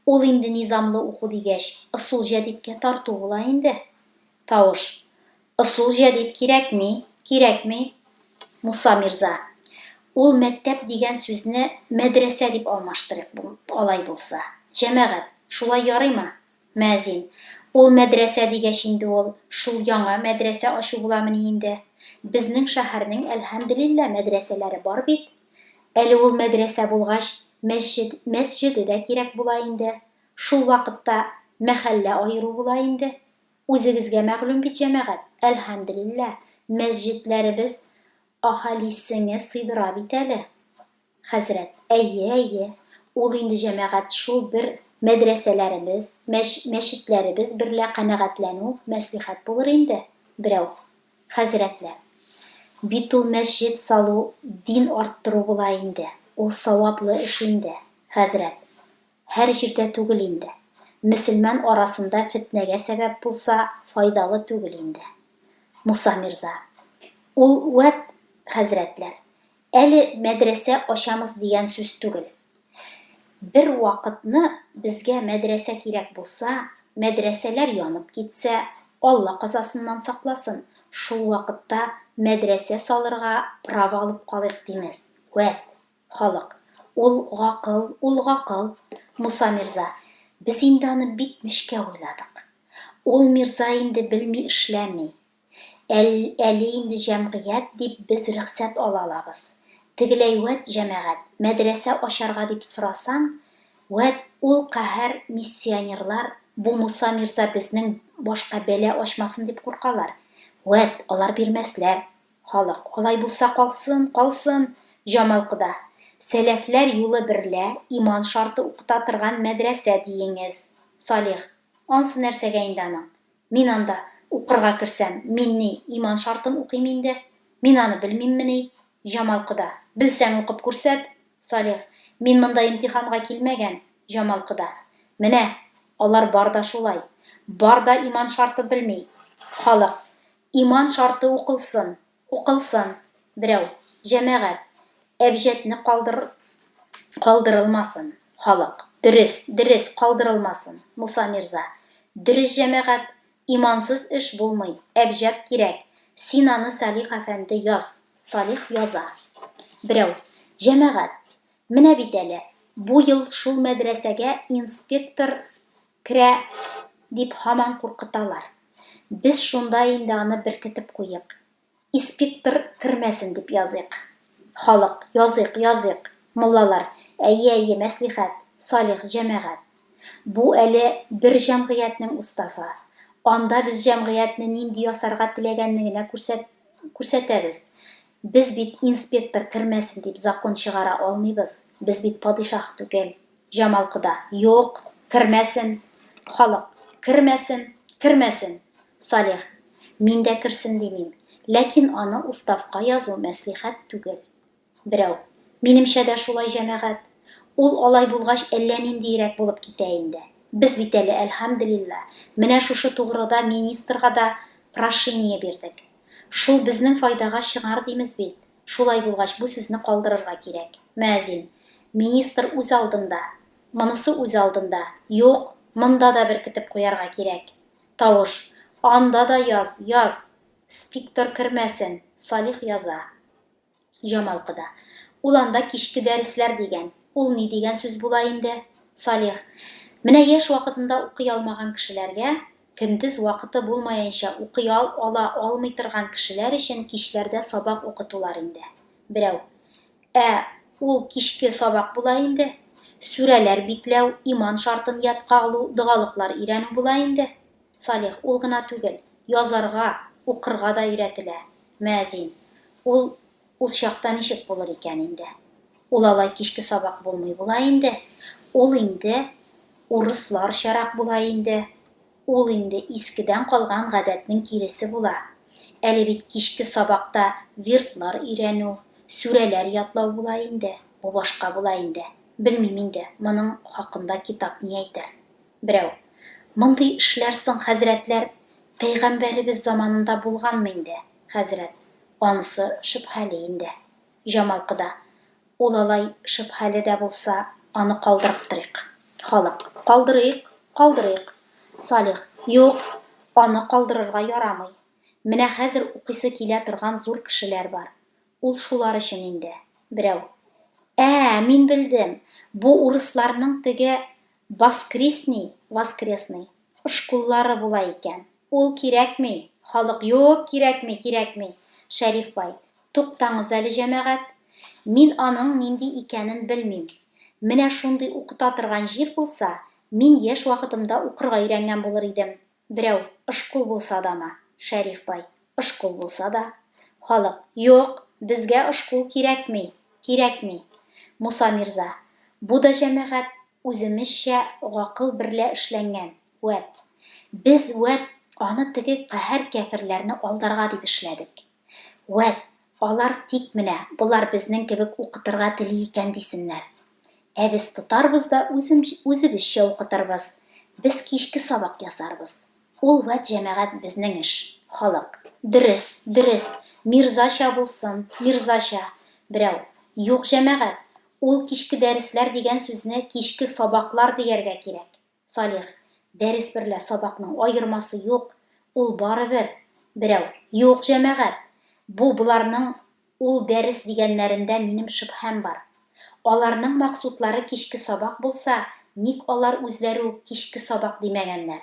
Ул инде низамлы уку дигәч, ысул җәдидкә тарту була инде. Тавыш. Ысул җәдид кирәкми, кирәкми, Муса мирза. Ул мәктәп дигән сүзне мәдрәсә дип алмаштырыйк бу, алай булса. Җәмәгать, шулай ярыймы? Мөәзин. Ул мәдрәсә дигәч инде ул, шул яңа мәдрәсә ачу буламыни инде? Безнең шәһәрнең, әлхәмделилла, мәдрәсәләре бар бит. Әле ул мәдрәсә булгач, мәсҗед, мәсҗеде дә кирәк була инде. Шул вакытта мәхәллә аеру була инде. Үзегезгә мәгълүм бит, җәмәгать, әлхәмделилла, мәсҗидләребез аһалисеңе сыйдыра бит әле. Хәзрәт. Әйе, әйе. Ул инде, җәмәгать, шул бер мәдрәсәләребез, мәч, мәчетләребез берлә канәгатьләнү, мәслихәт булыр инде. Берәү. Хәзрәтләр. Бит ул мәсҗид салу дин арттыру була инде, ул саваплы эш инде. Хәзрәт. Һәр җирдә түгел инде. Мөселман арасында фетнәгә сәбәп булса, файдалы түгел инде. Муса мирза. Ул вәт, хәзрәтләр. Әле мәдрәсә ачамыз дигән сүз түгел. Бер вакытны безгә мәдрәсә кирәк булса, мәдрәсәләр янып китсә, Алла казасыннан сакласын, шул вакытта мәдрәсә салырга право алып калыйк димез. Вәт. Халык. Ул гакыл, ул гакыл. Муса мирза. Без инде аны бик нечкә уйладык. Ул мирза инде белми эшләми. Әл, әле инде җәмгыять дип без рөхсәт ала алабыз. Тегеләй вәт җәмәгать, мәдрәсә ачарга дип сорасаң, вәт ул каһәр миссионерлар бу Муса мирза безнең башка бәла ачмасын дип куркалар. Вәт, алар бирмәсләр. Халык, Алай булса калсын, калсын! Җамал кода, Сәләфләр юлы берлә иман шарты укыта торган мәдрәсә диеңез. Салих, Ансы нәрсәгә инде аның? Мин анда укырга керсәм, мин ни, иман шартын укыйм инде? Мин аны белмиммени? Җамал кода, Белсәң укып күрсәт! Салих, Мин монда имтиханга килмәгән. Җамал кода, Менә, алар бар да шулай. Бар да иман шарты белми. Халык, Иман шарты укылсын, укылсын, берәү, җәмәгать, әбҗәтне калдыр, калдырылмасын, халык, дөрес, дөрес, калдырылмасын, Муса мирза, дөрес, җәмәгать, имансыз эш булмый, әбҗәт кирәк, син аны Салих әфәнде яз. Салих яза. Берәү, җәмәгать, менә бит әле, бу ел шул мәдрәсәгә инспектор, Керә, дип һаман куркыталар. Без шунда инде аны беркетеп куйыйк. Испиктр кермәсен дип языйк. Халык, Языйк, языйк! Муллалар, Әйе, әйе, мәслихәт, салих, җәмәгать. Бу әле бер җәмгыятьнең уставы. Анда без җәмгыятьне нинди ясарга теләгәнне генә күрсәтәбез. Без бит инспектор кермәсен дип закон чыгара алмыйбыз, без бит падишаһ түгел. Җамал кода, Юк, кермәсен! Халык, Кермәсен, кермәсен! Салих, Мин дә керсен димим, ләкин аны уставка язу мәслихәт түгел. Берәү, Минемчә дә шулай, җәмәгать. Ул алай булгач әллә ниндиерәк булып китә инде. Без бит әле, әлхәмделилла, менә шушы тугрыда министрга да прошение бирдек. Шул безнең файдага чыгар димез бит. Шулай булгач, бу сүзне калдырырга кирәк. Мөәзин. Министр үз алдында. Монысы үз алдында. Юк, монда да беркетеп куярга кирәк. Тавыш. Анда да яз, яз! Спиктор кермәсен! Салих яза. Җамал кода. Ул анда кичке дәресләр дигән. Ул ни дигән сүз була инде? Салих. Менә яшь вакытында укый алмаган кешеләргә, көндез вакыты булмаенча укый ал ала алмый торган кешеләр өчен кичләрдә сабак укытулар инде. Берәү. Ә ул кичке сабак була инде. Сүрәләр бикләү, иман шартын ятка алу, догалыклар өйрәнү була инде. Салих, ул гына түгел, язарга, укырга да өйрәтелә. Мөәзин, ул, ул чакта ничек булыр икән инде? Ул алай кичке сабак булмый була инде, ул инде урысларчарак була инде, ул инде искедән калган гадәтнең киресе була. Әле бит кичке сабакта вирдлар өйрәнү, сүрәләр ятлау була инде, бу башка була инде. Белмим инде, моның хакында китап ни әйтер. Берәү, Мондый эшләр соң, хәзрәтләр, пәйгамбәребез заманында булганмы инде, хәзрәт? Анысы шөбһәле инде. Җамалкыда, Ул алай шөбһәле дә булса, аны калдырып торыйк. Халык, Калдырыйк, калдырыйк. Салих, Юк, аны калдырырга ярамый. Менә хәзер укыйсы килә торган зур кешеләр бар. Ул шулар өчен инде. Берәү, Ә, мин белдем, бу урысларның теге Баскрисни, воскресный, ошкуллары була икән. Ул кирәкми, халык, юк, кирәкми, кирәкми. Шәриф бай, туктаңыз әле, җәмәгать. Мин аның нинди икәнен белмим. Менә шундый укыта торган җир булса, мин яшь вакытымда укырга өйрәнгән булыр идем, Берәү, Ышкул булса дамы, Шәриф бай, Ышкул булса да. Халык, Юк, безгә ышкул кирәкми, кирәкми. Муса мирза, Бу да җәмәгать үземезчә гакыл берлә эшләнгән, вәт. Без, вәт, аны теге каһәр кяферләрне алдарга дип эшләдек. Вәт, алар тик менә болар безнең кебек укытырга тели икән дисеннәр. Ә без тотарбыз да үзебезчә укытырбыз. Без кичке сабак ясарбыз. Ул вәт җәмәгать безнең эш. Халык. Дөрес, дөрес, мирзача булсын, мирзача. Берәү. Юк, җәмәгать, ул кичке дәресләр дигән сүзне кичке сабаклар дияргә кирәк. Салих, дәрес берлә сабакның аермасы юк, ул барыбер. Берәү, Юк, җәмәгать, бу боларның ул дәрес дигәннәрендә минем шөбһәм бар. Аларның максутлары кичке сабак булса, ник алар үзләре үк кичке сабак димәгәннәр?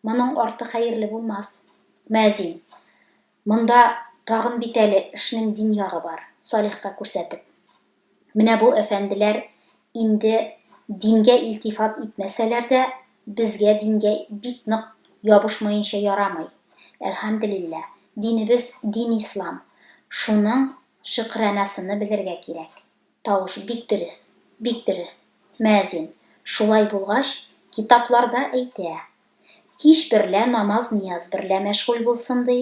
Моның арты хәерле булмас. Мәзин. Монда тагын бит әле эшнең дин ягы бар, Салихка күрсәтеп. Менә бу әфәнделәр инде дингә илтифат итмәсәләр дә, безгә дингә бик нык ябышмаенча ярамый. Әлхәмделилла, динебез дин-ислам, шуның шөкранәсыны белергә кирәк. Тавыш бик дөрес, бик дөрес, мөәзин, шулай булгач, китапларда әйтә, Кич берлә намаз-нияз берлә мәшгуль булсын, ди.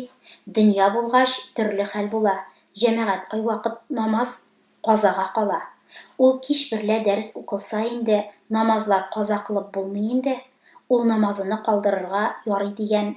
Дөнья булгач, төрле хәл була, җәмәгать кайвакыт намаз казага кала. Ул кич берлә дәрес укылса инде, намазлар каза кылып булмый инде, ул намазыны калдырырга ярый дигән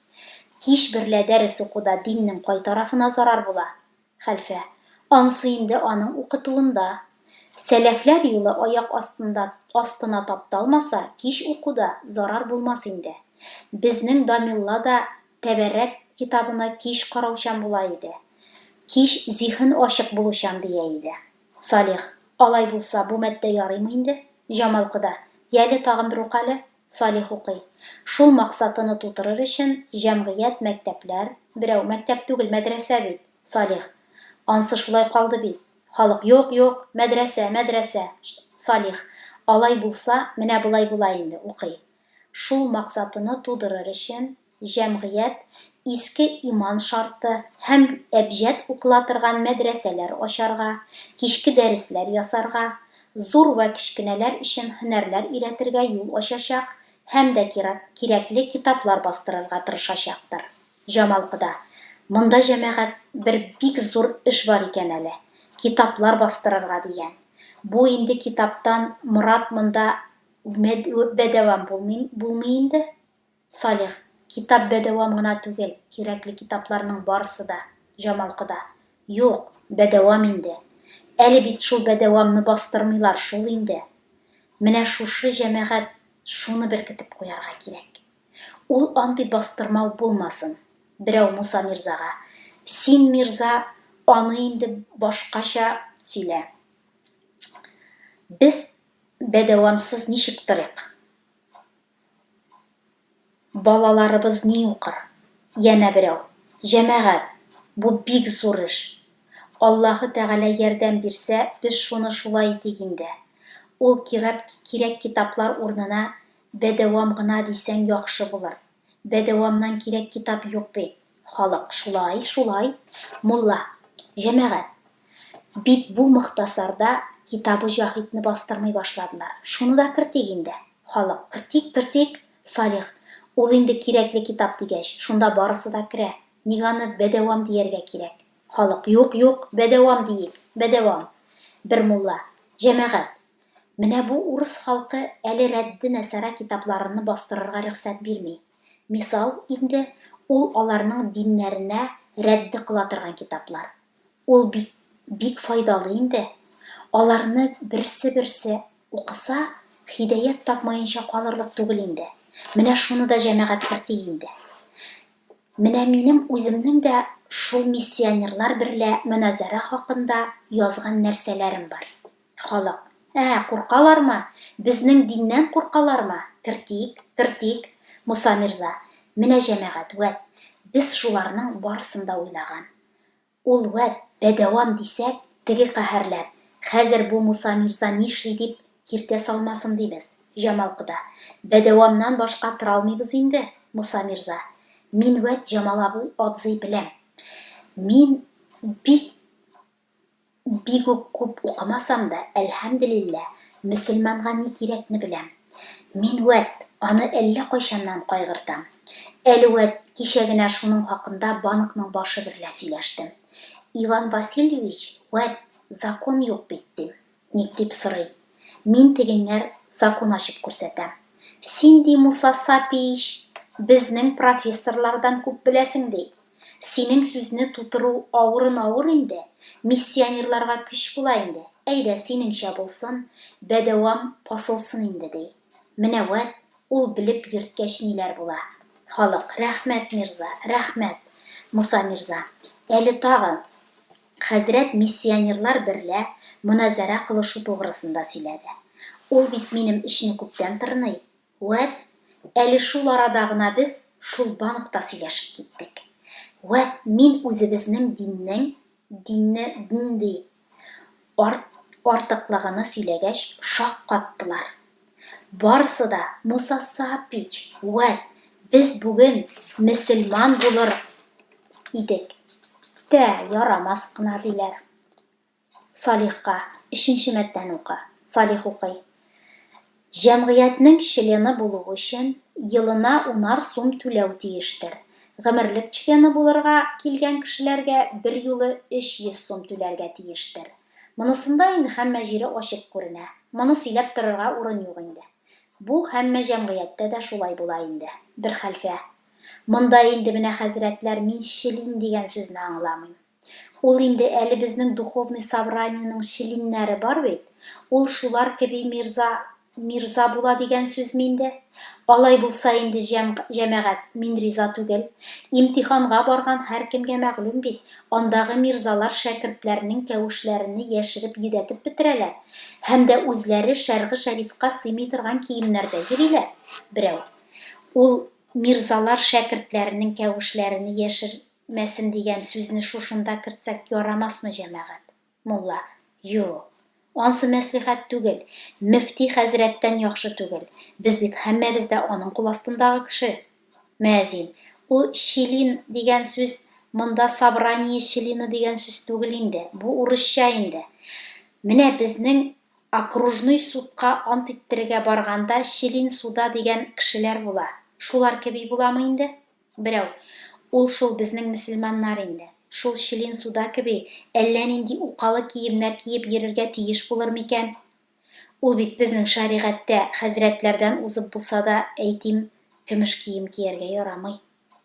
Кич берлә дәрес укуда диннең кай тарафына зарар була? Хәлфә. Ансы инде аның укытуында. Сәләфләр юлы аяк астында астына тапталмаса, кич укуда зарар булмас инде. Безнең Дамелла да Тәбәррәк китабына кич караучан була иде. Кич зиһен ачык булучан, дия иде. Салих. Алай булса, бу матдә ярыймы инде? Җамал кода. Яле, тагын бер укале. Салих укый. Шул максатыны тутырыр өчен, җәмгыять, мәктәпләр, берәү, мәктәп түгел, мәдрәсә бит, Салих. Ансы шулай калды бит. Халык, юк, юк, мәдрәсә, мәдрәсә. Салих. Алай булса, менә болай була инде, укый. Шул максатыны тудырыр өчен, Җәмгыять иске иман шарты һәм әбҗәд укыла торган мәдрәсәләр ачарга, кичке дәресләр ясарга, зур вә кечкенәләр өчен һөнәрләр өйрәтергә юл ачачак һәм дә кирәкле китаплар бастырырга тырышачактыр. Җамал кода, Монда, җәмәгать, бер бик зур эш бар икән әле, китаплар бастырырга, дигән. Бу инде китаптан морад монда бәдәвам булмый инде? Салих, китап бәдәвам гына түгел, кирәкле китапларның барысы да, Җамал кода. Юк, бәдәвам инде. Әле бит шул бәдәвамны бастырмыйлар шул инде. Менә шушы җәмәгать шуны беркетеп куярга кирәк. Ул андый бастырмау булмасын. Берәү Муса мирзага, Син, мирза, аны инде башкача сөйлә. Без бәдәвамсыз ничек торыйк? Балаларыбыз ни укыр? Янә берәү, Җәмәгать, бу бик зур эш. Аллаһы Тәгалә ярдәм бирсә, без шуны шулай итик инде. Ул кирәп кирәк китаплар урынына бәдәвам гына дисәң яхшы булыр. Бәдәвамнан кирәк китап юк бит. Халык, шулай, шулай. Мулла, Җәмәгать, Бит бу Мохтасарда китабы Җаһитне бастырмый башладылар. Шуны да кертик инде. Халык, кертик, кертик! Салих, ул инде кирәкле китап дигәч, шунда барысы да керә. Ник аны бәдәвам дияргә кирәк? Халык, юк, юк, бәдәвам диик, бәдәвам! Бер мулла, Җәмәгать! Менә бу урыс халкы әле Рәдде Нәсара китапларынны бастырырга рөхсәт бирми. Мисал, инде, ул аларның диннәренә рәдде кыла торган китаплар. Ул бит бик файдалы инде. Аларны берсе-берсе укыса, һидәят тапмаенча калырлык түгел инде. Менә шуны да җәмәгать кертик инде. Менә минем үземнең дә шул миссионерлар берлә моназарә хакында язган нәрсәләрем бар. Халык, Ә, куркалармы? Безнең диннән куркалармы? Кертик, кертик, Муса мирза. Менә җәмәгать, вәт, без шуларның барысын да уйлаган. Ул вәт, бәдәвам дисәк, теге каһәрләр, хәзер бу Муса мирза нишли дип, киртә салмасын дибез, Җамал кода. Бәдәвамнан башка торалмыйбыз инде, Муса мирза. Мин вәт Җамал абый абзый беләм. Мин бик. Бик үк күп укымасам да, әлһәмделилләһ, мөселманга ни кирәкне беләм. Мин вәт, аны әллә кайчаннан кайгыртам. Әле вәт, кичә генә шуның хакында банкның башы берлә сөйләштем. Иван Васильевич, вәт, закон юк бит, дим. Ник дип сорый. Мин тегеңәр закон ачып күрсәтәм. Син, ди, Муса Сапиич, безнең профессорлардан күп беләсең, ди. Синең сүзне тутыру авырын авыр инде, миссионерларга көч була инде, әйдә, синеңчә булсын, бәдәвам басылсын инде, ди. Менә вәт, ул белеп йөрткәч ниләр була. Халык, Рәхмәт, мирза, рәхмәт! Муса мирза, Әле тагын! Хәзрәт миссионерлар берлә моназарә кылышу тугрысында сөйләде. Ул бит минем эчне күптән тырный, Вәт, әле шул арада гына без шул банкта сөйләшеп киттек. Вәт, мин үзебезнең диннең, динне, дн ди, арт, артыклыгыны сөйләгәч, шаккаттылар. Барысы да, Муса Саапич, вәт, без бүген мөселман булыр идек тә ярамас кына, диләр. Салихка, өченче матдәне укы. Салих укый. Җәмгыятьнең члены булу өчен елына унар сум түләү тиештер. Гомерлек члены булырга килгән кешеләргә берьюлы өч йөз сум түләргә тиештер. Монысында инде һәммә җире ачык күренә. Моны сөйләп торырга урын юк инде. Бу һәммә җәмгыятьтә дә шулай була инде. Бер хәлфә. Монда инде менә хәзрәтләр мин члин дигән сүзне аңламыйм. Ул инде әле безнең духовный собраниенең челиннәре бар бит, ул шулар кеби мирза мирза була дигән сүзме инде? Алай булса инде, җәм җәмәгать, мин риза түгел. Имтиханга барган һәркемгә мәгълүм бит, андагы мирзалар шәкертләрнең кәвешләрене яшереп йөдәтеп бетерәләр һәм дә үзләре шәргы шәрифка сыймый торган киемнәрдә йөриләр. Берәү. Ул мирзалар шәкертләренең кәвешләрене яшер Мәсем дигән сүзне шушында кертсәк ярамасмы, җәмәгать? Мулла. Юк. Ансы мәслихәт түгел. Мөфти хәзрәттән яхшы түгел. Без бит һәммәбез дә аның кул астындагы кеше. Мөәзин. Ул члин дигән сүз монда собрание члены дигән сүз түгел инде. Бу урысча инде. Менә безнең окружной судка ант иттерергә барганда член суда дигән кешеләр була. Шулар кеби буламы инде? Берәү, Ул шул безнең мөселманнар инде. Шул Челин суда кеби, әллә нинди укалы киемнәр киеп йөрергә тиеш булыр микән? Ул бит безнең шәригатьтә хәзрәтләрдән узып булса да, әйтим, көмеш кием кияргә ярамый.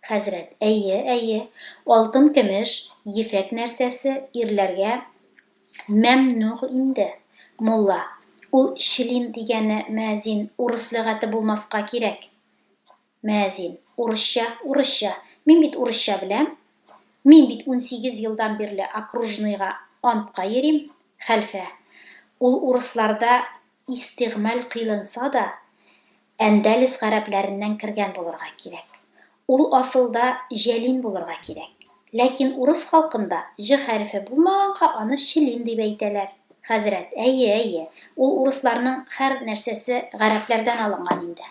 Хәзрәт, Әйе, әйе, алтын-көмеш, ефәк нәрсәсе ирләргә мәмнүгъ инде. Мулла, Ул Челин дигәне, мөәзин, урыс лөгате булмаска кирәк. Мәзин, урысча, урысча, мин бит урысча беләм, мин бит унсигез елдан бирле окружныйга антка йөрим, хәлфә, ул урысларда истигъмаль кыйлынса да, Әндәлес гарәпләреннән кергән булырга кирәк. Ул асылда җәлин булырга кирәк. Ләкин урыс халкында ж хәрефе булмаганга аны члин дип әйтәләр. Хәзрәт, әйе, әйе, ул урысларның хәр нәрсәсе гарәпләрдән алынган инде.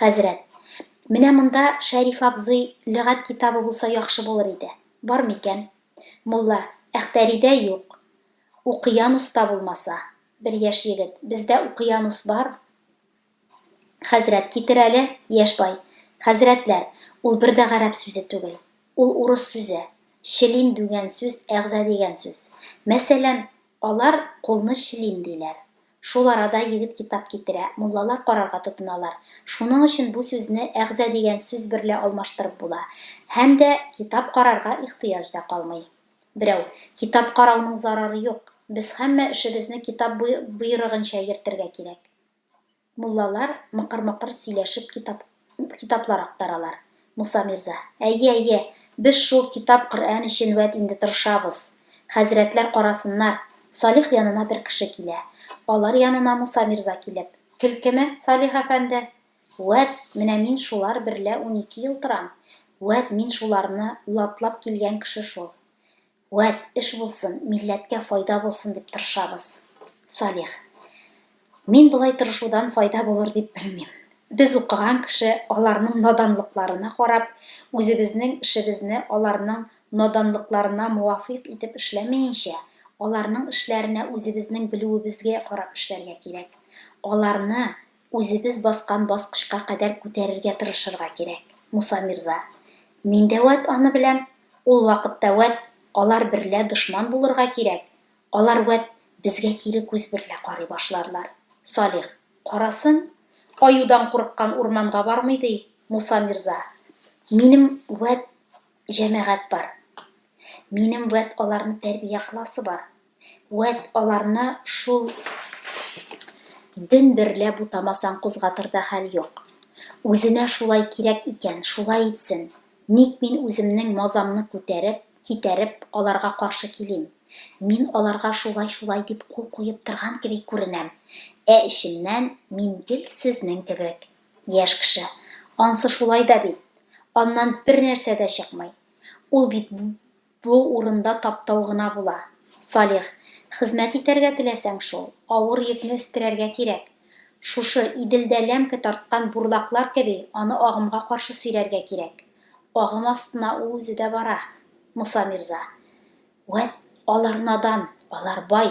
Хәзрәт. Менә монда Шәриф абзый лөгать китабы булса яхшы булыр иде. Бар микән? Мулла. Әхтәридә юк. Укыянуста булмаса. Бер яшь егет. Бездә укыянус бар. Хәзрәт. Китер әле. Яшь бай. Хәзрәтләр, ул бер дә гарәп сүзе түгел. Ул урыс сүзе. Члин дүгән сүз, әгъза дигән сүз. Мәсәлән, алар кулны члин диләр. Шул арада егет китап китерә, муллалар карарга тотыналар. Шуның өчен бу сүзне әгъза дигән сүз берлә алмаштырып була. Һәм дә китап карарга ихтыяҗ да калмый. Берәү, Китап карауның зарары юк, без һәммә эшебезне китап боерыгынча йөртергә кирәк. Муллалар мыкыр-мыкыр сөйләшеп китап. Күп китаплар актаралар. Муса мирза. Әйе, әйе, без шул китап Коръән өчен вәт инде тырышабыз. Хәзрәтләр карасыннар. Салих янына бер кеше килә. Алар янына Муса мирза килеп. Килкеме, Салих әфәнде? Вәт, менә мин шулар берлә унике ел торам. Вәт, мин шуларны латлап килгән кеше шул. Вәт, эш булсын, милләткә файда булсын дип тырышабыз. Салих. Мин болай тырышудан файда булыр дип белмим. Без укыган кеше аларның наданлыкларына карап, үзебезнең эшебезне аларның наданлыкларына муафыйк итеп эшләмәенчә, аларның эшләренә үзебезнең белүебезгә карап эшләргә кирәк. Аларны үзебез баскан баскычка кадәр күтәрергә тырышырга кирәк, Муса мирза. Мин дә вәт аны беләм. Ул вакытта вәт алар берлә дошман булырга кирәк, алар вәт безгә кире күз берлә карый башларлар. Салих, карасын, аюдан курыккан урманга бармый, ди, Муса мирза, минем вәт җәмәгать бар, минем вәт аларны тәрбия кыласы бар. Вәт аларны шул ден берлә бутамасаң кузгатыр да хәл юк. Үзенә шулай кирәк икән, шулай итсен. Ник мин үземнең мазамны күтәреп, китәреп, аларга каршы килим? Мин аларга шулай-шулай дип кул куеп торган кеби күренәм, ә эчемнән мин гел сезнең кебек. Яшь кеше, ансы шулай да бит. Аннан бернәрсә дә чыкмый. Ул бит Бу урында таптау гына була. Салих, хезмәт итәргә теләсәң шул, авыр йөкне өстерәргә кирәк. Шушы, Иделдә ләмке тарткан бурлаклар кеби, аны агымга каршы сөйрәргә кирәк. Агым астына ул үзе дә бара, Муса мирза. Вәт, алар надан, алар бай,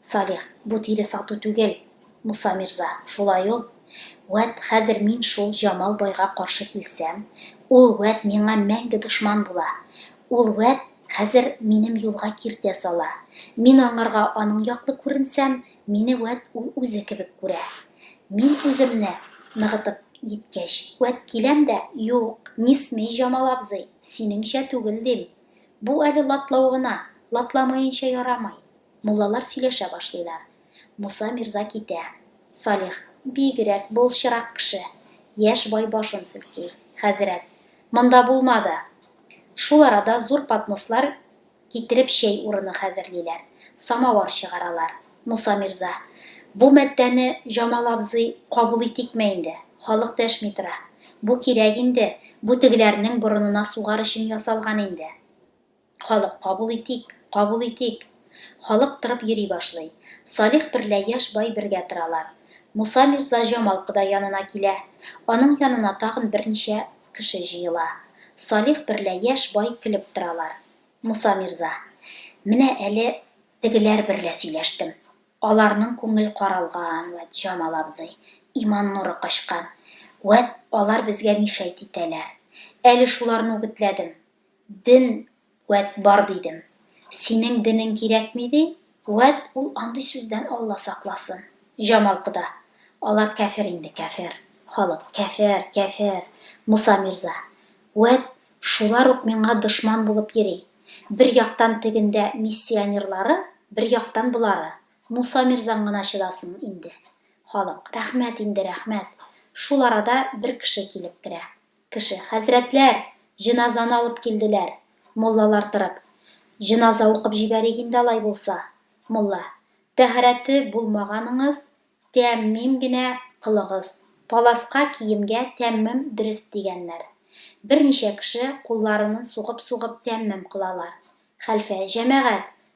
Салих, бу тире сату түгел, Муса мирза, шулай ул. Вәт хәзер мин шул Җамал байга каршы килсәм, ул вәт миңа мәңге дошман була. Ул вәт хәзер минем юлга киртә сала. Мин аңарга аның яклы күренсәм, мине вәт ул үзе кебек күрә. Мин үземне ныгытып йиткәч, вәт киләм дә, Юк, не смей, Җамал абзый, синеңчә түгел, дим. Бу әле латлау гына, латламаенча ярамый. Муллалар сөйләшә башлыйлар. Муса мирза китә. Салих, бигрәк былчырак кеше. Яшь бай башын селки. Хәзрәт, монда булмады! Шул арада зур поднослар китереп чәй урыны хәзерлиләр, самавар чыгаралар. Муса мирза, Бу матдәне, Җамал абзый, кабул итикме инде? Халык дәшми тора. Бу кирәк инде, бу тегеләрнең борынына сугар өчен ясалган инде. Халык, кабул итик, кабул итик! Халык торып йөри башлый. Салих берлә яшь бай бергә торалар. Муса мирза Җамал кода янына килә. Аның янына тагын берничә кеше җыела. Салих берлә яшь бай көлеп торалар. Муса мирза. Менә әле тегеләр берлә сөйләштем. Аларның күңел каралган, вәт, Җамал абзый. Иман нуры качкан. Вәт, алар безгә мишәйт итәләр. Әле шуларны үгетләдем. Дин, вәт, бар дидем. Синең денең кирәкми, ди, вәт, ул андый сүздән Алла сакласын. Җамалкда. Алар кәфер инде, кәфер. Халык, кәфер, кәфер. Муса мирза. Вәт, шулар ук миңа дошман булып йөри. Бер яктан тегендә миссионерлары, бер яктан болары. Муса мирзаң гына чыдасын инде. Халык, рәхмәт инде, рәхмәт. Шул арада бер кеше килеп керә. Кеше. Хәзрәтләр! Җеназаны алып килделәр. Муллалар торып. Җеназа укып җибәрик инде алай булса. Мулла. Тәһарәте булмаганыгыз, тәэммим генә кылыгыз. Паласка киемгә тәэммем дөрес дигәннәр. Берничә кеше кулларынын сугып-сугып тәэммем кылалар. Хәлфә. Җәмәгать!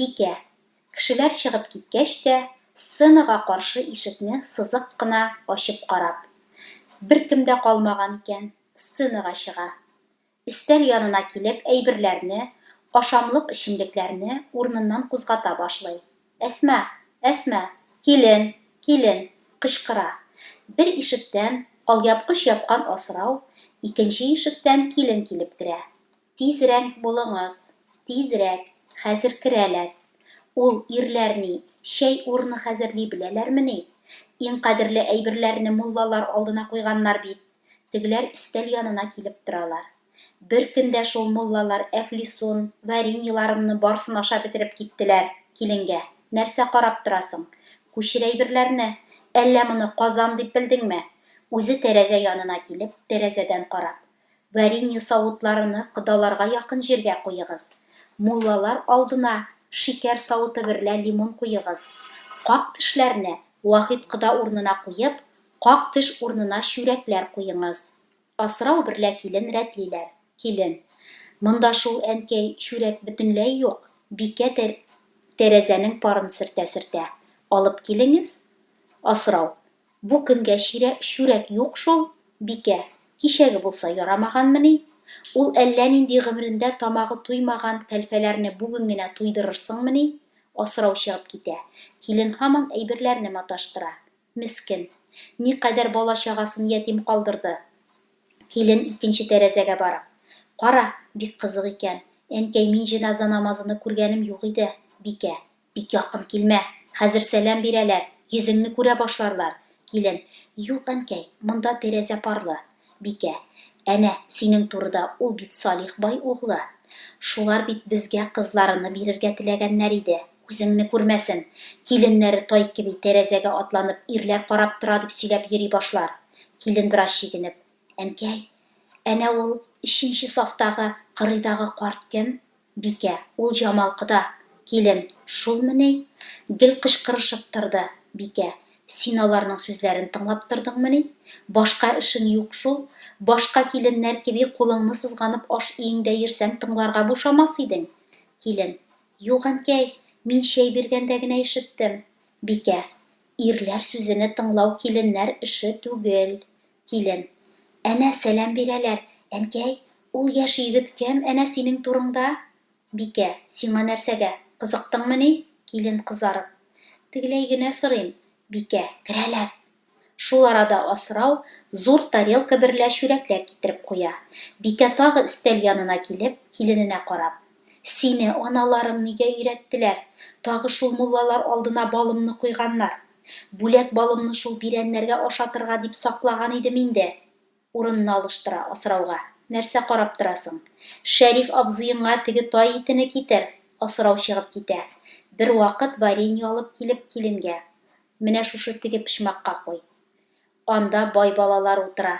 Бикә, кешеләр чыгып киткәч тә, сценага каршы ишекне сызык кына ачып карап. Беркем дә калмаган икән, сценага чыга. Өстәл янына килеп әйберләрне, ашамлык-эчемлекләрне урыныннан кузгата башлый. Әсма! Әсма! Килен! Килен! кычкыра. Бер ишектән, алъяпкыч япкан асрау, икенче ишектән килен килеп керә. Тизрәк булыңыз, тизрәк, хәзер керәләр. Ул ирләр ни, чәй урыны хәзерли беләләрмени? Иң кадерле әйберләрне муллалар алдына куйганнар бит. Тегеләр өстәл янына килеп торалар. Бер көн дә шул муллалар әфлисун, вареньеларымны барсын ашап бетереп киттеләр. Киленгә, нәрсә карап торасың? Күчер әйберләрне! Әллә моны Казан дип белдеңме? Үзе тәрәзә янына килеп, тәрәзәдән карап. Варенье савытларыны кодаларга якын җиргә куегыз. Муллалар алдына шикәр савыты берлә лимон куегыз. Как төшләрне Вахит кода урынына куеп, как төш урынына чүрәкләр куеңыз. Асрау берлә килен рәтлиләр. Килен. Монда шул, әнкәй, чүрәк бөтенләй юк. Бикә тә тәрәзәнең парын сөртә-сөртә. Алып килеңез. Асрау. Бу көнгә чирә чүрәк юк шул, бикә, кичәге булса ярамаганмыни? Ул әллә нинди гомерендә тамагы туймаган кәлфәләрне бүген генә туйдырырсыңмыни? Асрау чыгып китә. Килен һаман әйберләрне маташтыра. Мескен. Никадәр бала-чагасын ятим калдырды. Килен икенче тәрәзәгә барып. Кара, бик кызык икән. Әнкәй, мин җеназа намазыны күргәнем юк иде, бикә. Бик якын килмә, хәзер сәлам бирәләр, йөзеңне күрә башларлар. Килен. Юк, әнкәй, монда тәрәзә парлы. Бикә. Әнә, синең турыда, ул бит Салих бай углы. Шулар бит безгә кызларыны бирергә теләгәннәр иде. Күзеңне күрмәсен. Киленнәре тай кеби тәрәзәгә атланып, ирләр карап тора дип сөйләп йөри башлар. Килен бераз чигенеп. Әнкәй, әнә ул өченче сафтагы, кырыйдагы карт кем? Бикә, ул Җамал кода, килен, шулмы ни? гел кычкырышып торды. Бикә, син аларның сүзләрен тыңлап тордыңмы ни? Башка эшең юк шул? Башка киленнәр кеби кулыңны сызганып аш өеңдә йөрсәң тыңларга бушамас идең. Килен, юк, әнкәй, мин чәй биргәндә генә ишеттем. Бикә, ирләр сүзене тыңлау киленнәр эше түгел. Килен. Әнә сәлам бирәләр. Әнкәй, ул яшь егет кем әнә синең турыңда? Бикә. Сиңа нәрсәгә, кызыктыңмыни? Килен, кызарып. Тегеләй генә сорыйм. Бикә. Керәләр. Шул арада асрау зур тарелка берлә чүрәкләр китереп куя. Бикә тагы өстәл янына килеп, килененә карап. Сине аналарың нигә өйрәттеләр? Тагы шул муллалар алдына балымны куйганнар. Бүләк балымны шул бирәннәргә ашатырга дип саклаган идем инде. Урынны алыштыра, асрауга. Нәрсә карап торасың? Шәриф абзыеңа теге тай итене китер! Асрау чыгып китә. Бервакыт варенье алып килеп, киленгә. Менә шушы теге почмакка куй. Анда бай балалар утыра.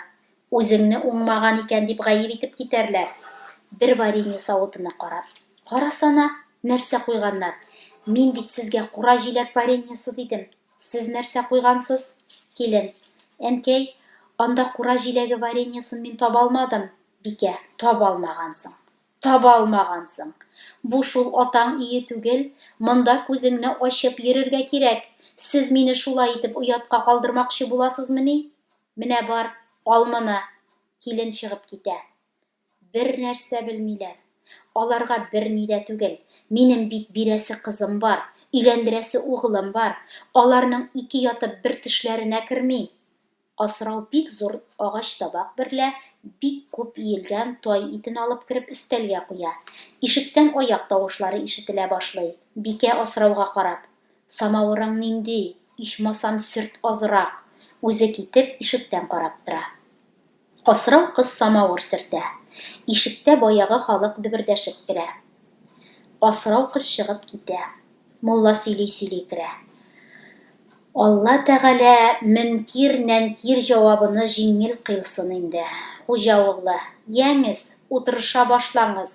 Үзеңне уңмаган икән дип гаеп итеп китәрләр. Бер варенье савытына карап. Карасана, нәрсә куйганнар. Мин бит сезгә кура җиләк вареньесы дидем. Сез нәрсә куйгансыз? Килен. Әнкәй, анда кура җиләге вареньесын мин таба алмадым. Бикә. Таба алмагансың. Таба алмагансың. Бу шул атаң өе түгел, монда күзеңне ачып йөрергә кирәк. Сез мине шулай итеп оятка калдырмакчы буласызмыни? Менә бар, ал моны. Килен чыгып китә. Бернәрсә белмиләр. Аларга берни дә түгел. Минем бит бирәсе кызым бар, өйләндерәсе угылым бар. Аларның ике ятып бер төшләренә керми. Асрау бик зур агач табак берлә бик күп иелгән тай итен алып кереп өстәлгә куя. Ишектән аяк тавышлары ишетелә башлый. Бикә Асрауга карап, Самавырың нинди, ичмасам сөрт азрак! Үзе китеп, ишектән карап тора. Асрау кыз самавыр сөртә. Ишектә баягы халык дөбердәшеп керә. Асрау кыз чыгып китә. Мулла сөйли-сөйли керә. Алла Тәгалә мөнкир нәнкир җавабыны җиңел кыйлсын инде, хуҗа углы, яңез, утырыша башлаңыз.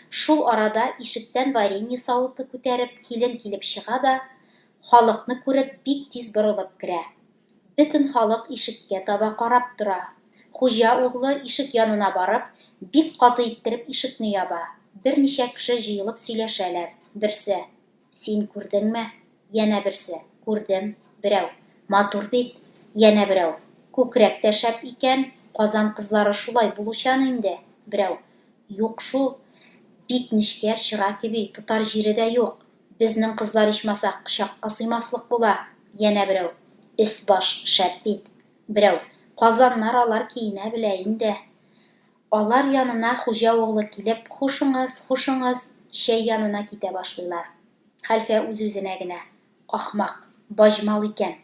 Шул арада ишектән варенье савыты күтәреп килен килеп чыга да, халыкны күреп бик тиз борылып керә. Бөтен халык ишеккә таба карап тора. Хуҗа углы ишек янына барып, бик каты иттереп ишекне яба. Берничә кеше җыелып сөйләшәләр. Берсе. Син күрдеңме? Янә берсе, Күрдем, берәү, Матур бит! Янә берәү, Күкрәк тә шәп икән, Казан кызлары шулай булучан инде, берәү, Юк шул, бик нечкә, чыра кеби, тотар җире дә юк, безнең кызлар ичмаса кочакка сыймаслык була, янә берәү, Өс-баш шәп бит! Берәү, Казаннар алар киенә белә инде. Алар янына хуҗа углы килеп, Хушыңыз, хушыңыз, чәй янына китә башлыйлар. Хәлфә үз-үзенә генә, Ахмак, баҗмал икән,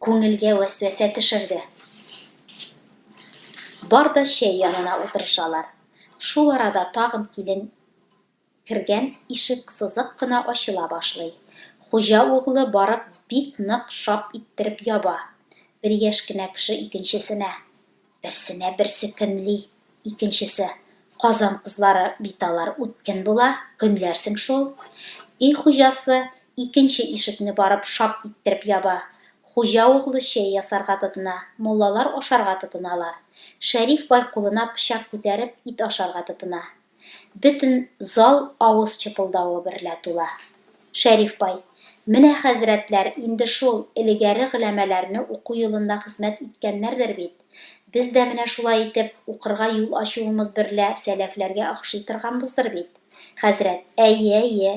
күңелгә вәсвәсә төшерде. Бар да чәй янына утырышалар. Шул арада тагын килен Кергән ишек сызык кына ачыла башлый. Хуҗа углы барып бик нык шап иттереп яба. Бер яшь кенә кеше икенчесенә, берсенә берсе көнли, икенчесе, Казан кызлары бит алар үткен була, көнләрсең шул. Өй хуҗасы икенче ишекне барып шап иттереп яба. Хуҗа углы чәй ясарга тотына, муллалар ашарга тотыналар. Шәриф бай кулына пычак күтәреп ит ашарга тотына. Бөтен зал авыз чыпылдавы берлә тула. Шәриф бай, Менә хәзрәтләр инде шул элегәре голәмәләрне уку юлында хезмәт иткәннәрдер бит. Без дә менә шулай итеп укырга юл ачуыбыз берлә сәләфләргә охшый торганбыздыр бит. Хәзрәт, Әйе, әйе.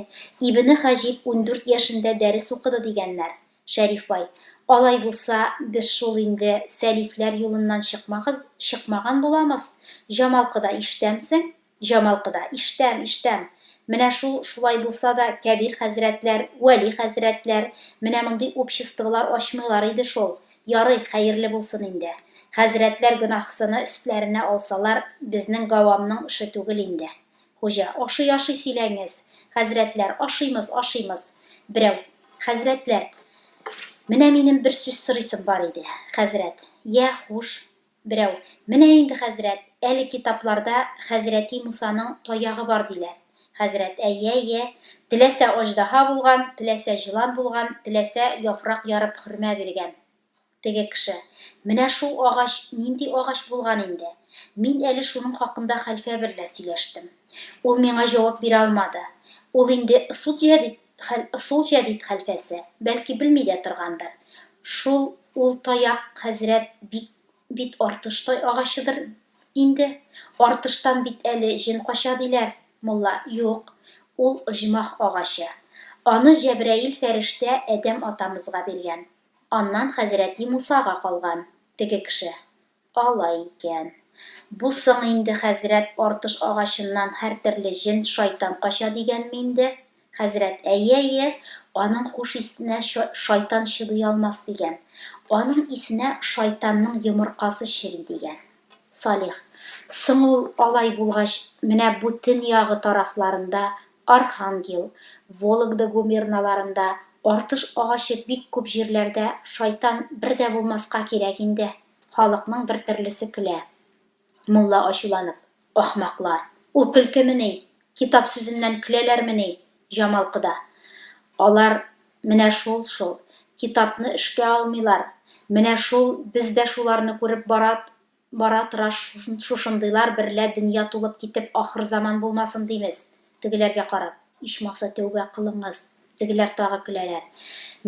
Ибне Хаҗиб ундүрт яшендә дәрес укыды дигәннәр. Шәриф бай. Алай булса, без шул инде Сәлифләр юлыннан чыкмагыз, чыкмаган буламыз. Җамалкыда ишетәмсең? Җамалкыда, ишетәм, ишетәм. Менә шул, шулай булса да, Кәбир хәзрәтләр, Вәли хәзрәтләр менә мондый обществолар ачмыйлар иде шул. Ярый, хәерле булсын инде. Хәзрәтләр гөнаһсыны өстләренә алсалар, безнең гавамның эше түгел инде. Хуҗа. Ашый, ашый, сөйләңез. Хәзрәтләр. Ашыймыз, ашыймыз. Берәү. Хәзрәтләр. Менә минем бер сүз сорыйсым бар иде. Хәзрәт. Йә, хуш. Берәү. Менә инде, хәзрәт, әле китапларда хәзрәти Мусаның таягы бар диләр. Хәзрәт. Әйе, әйе. Теләсә аҗдаһа булган, теләсә җылан булган, теләсә яфрак ярып хөрмә биргән. Теге кеше, Менә шул агач нинди агач булган инде? Мин әле шуның хакында хәлфә берлә сөйләштем. Ул миңа җавап бирә алмады. Ул инде ысут җәдит хәл ысул җәдит хәлфәсе, бәлки белми дә торгандыр. Шул ул таяк, хәзрәт, бит бит артыштай агачыдыр инде. Артыштан бит әле җен кача диләр. Мулла, Юк, ул оҗмах агачы. Аны Җәбраил фәрештә Адәм атамызга биргән. Аннан хәзрәти Мусага калган, теге кеше. Алай икән. Бу соң инде, хәзрәт, артыш агачыннан һәртөрле җен, шайтан кача дигәнме инде? Хәзрәт, әйе, әйе, аның хуш исенә шайтан чыдый алмас дигән. Аның исенә шайтанның йомыркасы чери дигән. Салих, соң ул алай булгач, менә бу төньягы тарафларында Архангел, Вологда губерналарында артыш агачы бик күп җирләрдә шайтан бер дә булмаска кирәк инде, халыкның бер төрлесе көлә. Мулла ачуланып, Ахмаклар, ул көлкемени, китап сүзеннән көләләрмени, Җамал кода? Алар менә шул шул, китапны эшкә алмыйлар, менә шул без дә шуларны күреп барат Бара-тора шушындыйлар берлә дөнья тулып китеп, ахырзаман булмасын димез, тегеләргә карап. Ичмаса, тәүбә кылыңыз. Тегеләр тагы көләләр.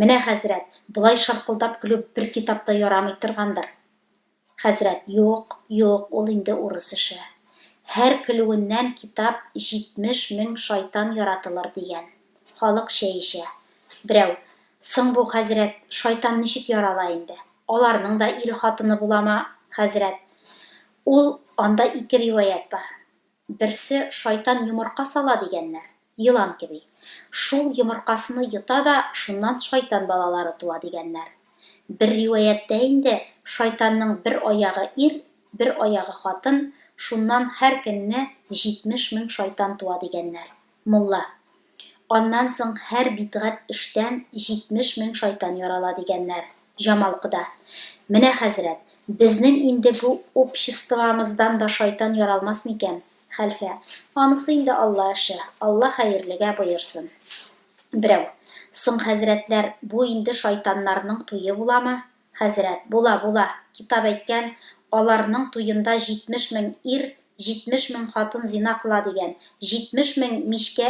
Менә, хәзрәт, болай шаркылдап көлү бер китапта ярамый торгандыр. Хәзрәт, Юк, юк, ул инде урыс эше. Һәр көлүеннән китап җитмеш мең шайтан яратылыр, дигән. Халык чәй эчә. Берәү, Соң бу, хәзрәт, шайтан ничек ярала инде? Аларның да ире-хатыны буламы, хәзрәт? Ул, анда ике риваять бар. Берсе, шайтан йомырка сала, дигәннәр, елан кеби. Шул йомыркасыны йота да, шуннан шайтан балалары туа, дигәннәр. Бер риваятьтә инде, шайтанның бер аягы ир, бер аягы хатын, шуннан һәр көнне җитмеш мең шайтан туа, дигәннәр. Мулла. Аннан соң һәр бидгать эштән җитмеш мең шайтан ярала, дигәннәр. Җамал кода. Менә, хәзрәт, безнең инде бу обществомыздан да шайтан яралмас микән? Хәлфә. Анысы инде Алла эше, Алла хәерлегә боерсын. Берәү. Соң, хәзрәтләр, бу инде шайтаннарның туе буламы? Хәзрәт, була, була, китап әйткән, аларның туенда җитмеш мең ир, җитмеш мең хатын зина кыла дигән, җитмеш мең мичкә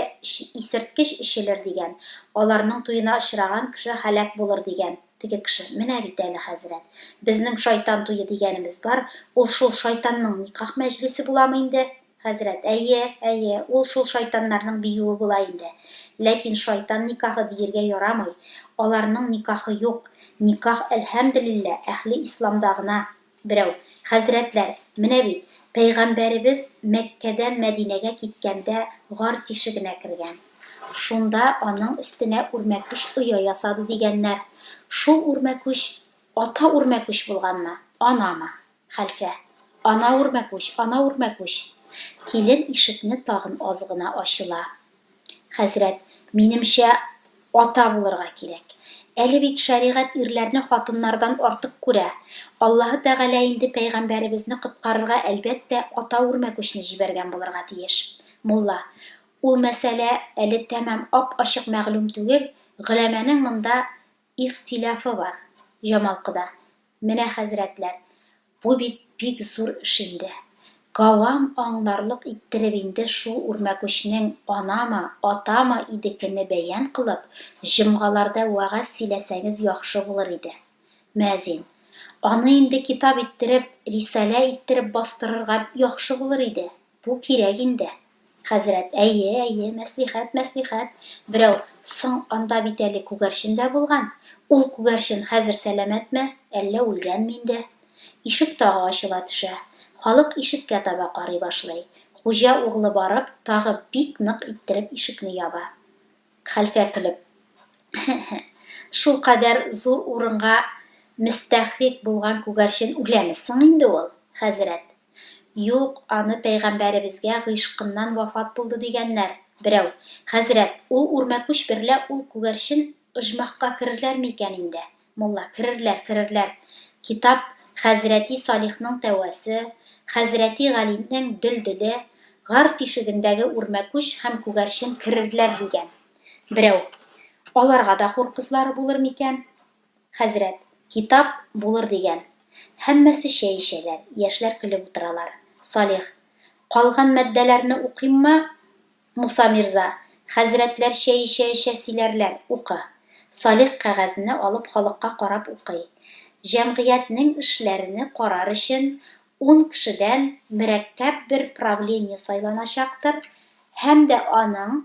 исерткеч эчелер дигән, аларның туена очраган кеше һәлак булыр дигән, теге кеше, менә бит әле, хәзрәт, безнең шайтан туе дигәнебез бар, ул шул шайтанның никах мәҗлесе буламы инде? Хәзрәт, әйе, әйе, ул шул шайтаннарның биюе була инде. Ләкин шайтан никахы диергә ярамый. Аларның никахы юк. Никах, әлһәмделилла, әһле исламда гына. Берәү, Хәзрәтләр, менә бит, пәйгамбәребез Мәккәдән Мәдинәгә киткәндә гар тишегенә кергән. Шунда аның өстенә үрмәкүч оя ясады дигәннәр. Шул үрмәкүч ата үрмәкүч булганмы, анамы? Хәлфә. Ана үрмәкүч, ана үрмәкүч! Килен ишекне тагын аз гына ачыла. Хәзрәт, минемчә, ата булырга кирәк. Әле бит шәригать ирләрне хатыннардан артык күрә. Аллаһы Тәгалә инде пәйгамбәребезне коткарырга, әлбәттә, ата үрмәкүчне җибәргән булырга тиеш. Мулла. Ул мәсьәлә әле тәмам ап-ачык мәгълүм түгел, голәмәнең монда Ихтиляфы бар, Җамал кода. Менә, хәзрәтләр, бу бит бик зур эш инде. Гавам аңларлык иттереп инде шул үрмәкүчнең анамы, атамы идекене бәян кылып, җомгаларда вәгазь сөйләсәгез яхшы булыр иде. Мөәзин. Аны инде китап иттереп, рисалә иттереп бастырырга яхшы булыр иде. Бу кирәк инде. Хәзрәт, әйе, әйе, мәслихәт, мәслихәт. Берәү, соң, анда бит әле күгәрчен дә булган. Ул күгәрчен хәзер сәламәтме, әллә үлгәнме инде? Ишек тагы ачыла төшә. Халык ишеккә таба карый башлый. Хуҗа углы барып, тагы бик нык иттереп ишекне яба. Хәлфә көлеп. Хе-хе. Шулкадәр зур урынга мөстәхрик булган күгәрчен үләме соң инде ул, хәзрәт? Юк, аны пәйгамбәребезгә гыйшкыннан вафат булды дигәннәр, берәү. Хәзрәт, ул үрмәкүч берлә ул күгәрчен оҗмахка керерләр микән инде? Мулла, керерләр, керерләр. Китап, хәзрәти Салихның тәвәсе, хәзрәти Галинең дөлделе, гар тишегендәге үрмәкүч һәм күгәрчен керерләр дигән. Берәү. Аларга да хур кызлары булыр микән? Хәзрәт, китап, булыр дигән. Һәммәсе чәй эчәләр, яшьләр көлеп утыралар. Салих. Калган мәддәләрне укыйммы, Муса мирза? Хәзрәтләр чәй эчә-эчә сөйләрләр, укы. Салих кәгазьне алып халыкка карап укый. Җәмгыятьнең эшләрене карар өчен ун кешедән мөрәккәп бер правление сайланачактыр һәм дә аның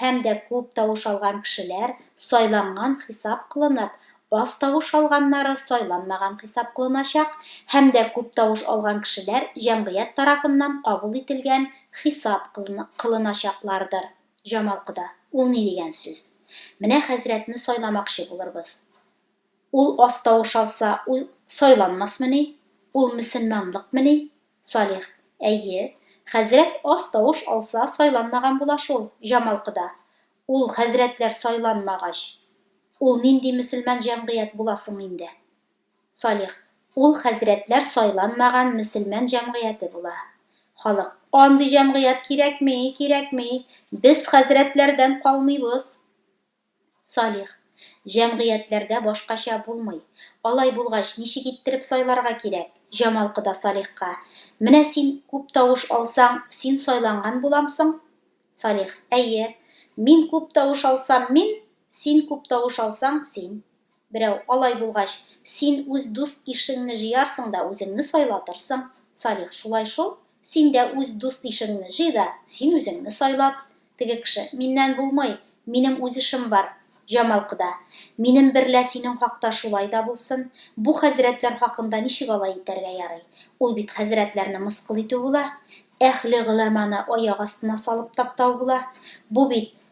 һәм дә күп тавыш алган кешеләр сайланган хисап кылынып, аз тавыш алганнары сайланмаган хисап кылыначак һәм дә күп тавыш алган кешеләр җәмгыять тарафыннан кабул ителгән хисап кылыначаклардыр. Җамал кода, Ул ни дигән сүз? Менә хәзрәтне сайламакчы булырбыз. Ул аз тавыш алса, ул сайланмасмыни? Ул мөселманлыкмыни? Салих. Әйе, хәзрәт аз тавыш алса, сайланмаган була шул, Җамал кода. Ул хәзрәтләр сайланмагач, ул нинди мөселман җәмгыять була соң инде? Салих. Ул хәзрәтләр сайланмаган мөселман җәмгыяте була. Халык. Андый җәмгыять кирәкми, кирәкми. Без хәзрәтләрдән калмыйбыз. Салих. Җәмгыятьләрдә башкача булмый. Алай булгач, ничек иттереп сайларга кирәк? Җамал кода Салихка. Менә син күп тавыш алсаң, син сайланган буламсың? Салих. Әйе. Мин күп тавыш алсам, мин, син күп тавыш алсаң, син. Берәү, Алай булгач, син үз дус-ишеңне җыярсың да үзеңне сайлатырсың. Салих, Шулай шул, син дә үз дус-ишеңне җый да, син үзеңне сайлат. Теге кеше, Миннән булмый, минем үз эшем бар. Җамал кода, Минем берлә синең хакта шулай да булсын. Бу хәзрәтләр хакында ничек алай итәргә ярый? Ул бит хәзрәтләрне мыскыл итү була. Әһле гөләманы аяк астына салып таптау була. Бу бит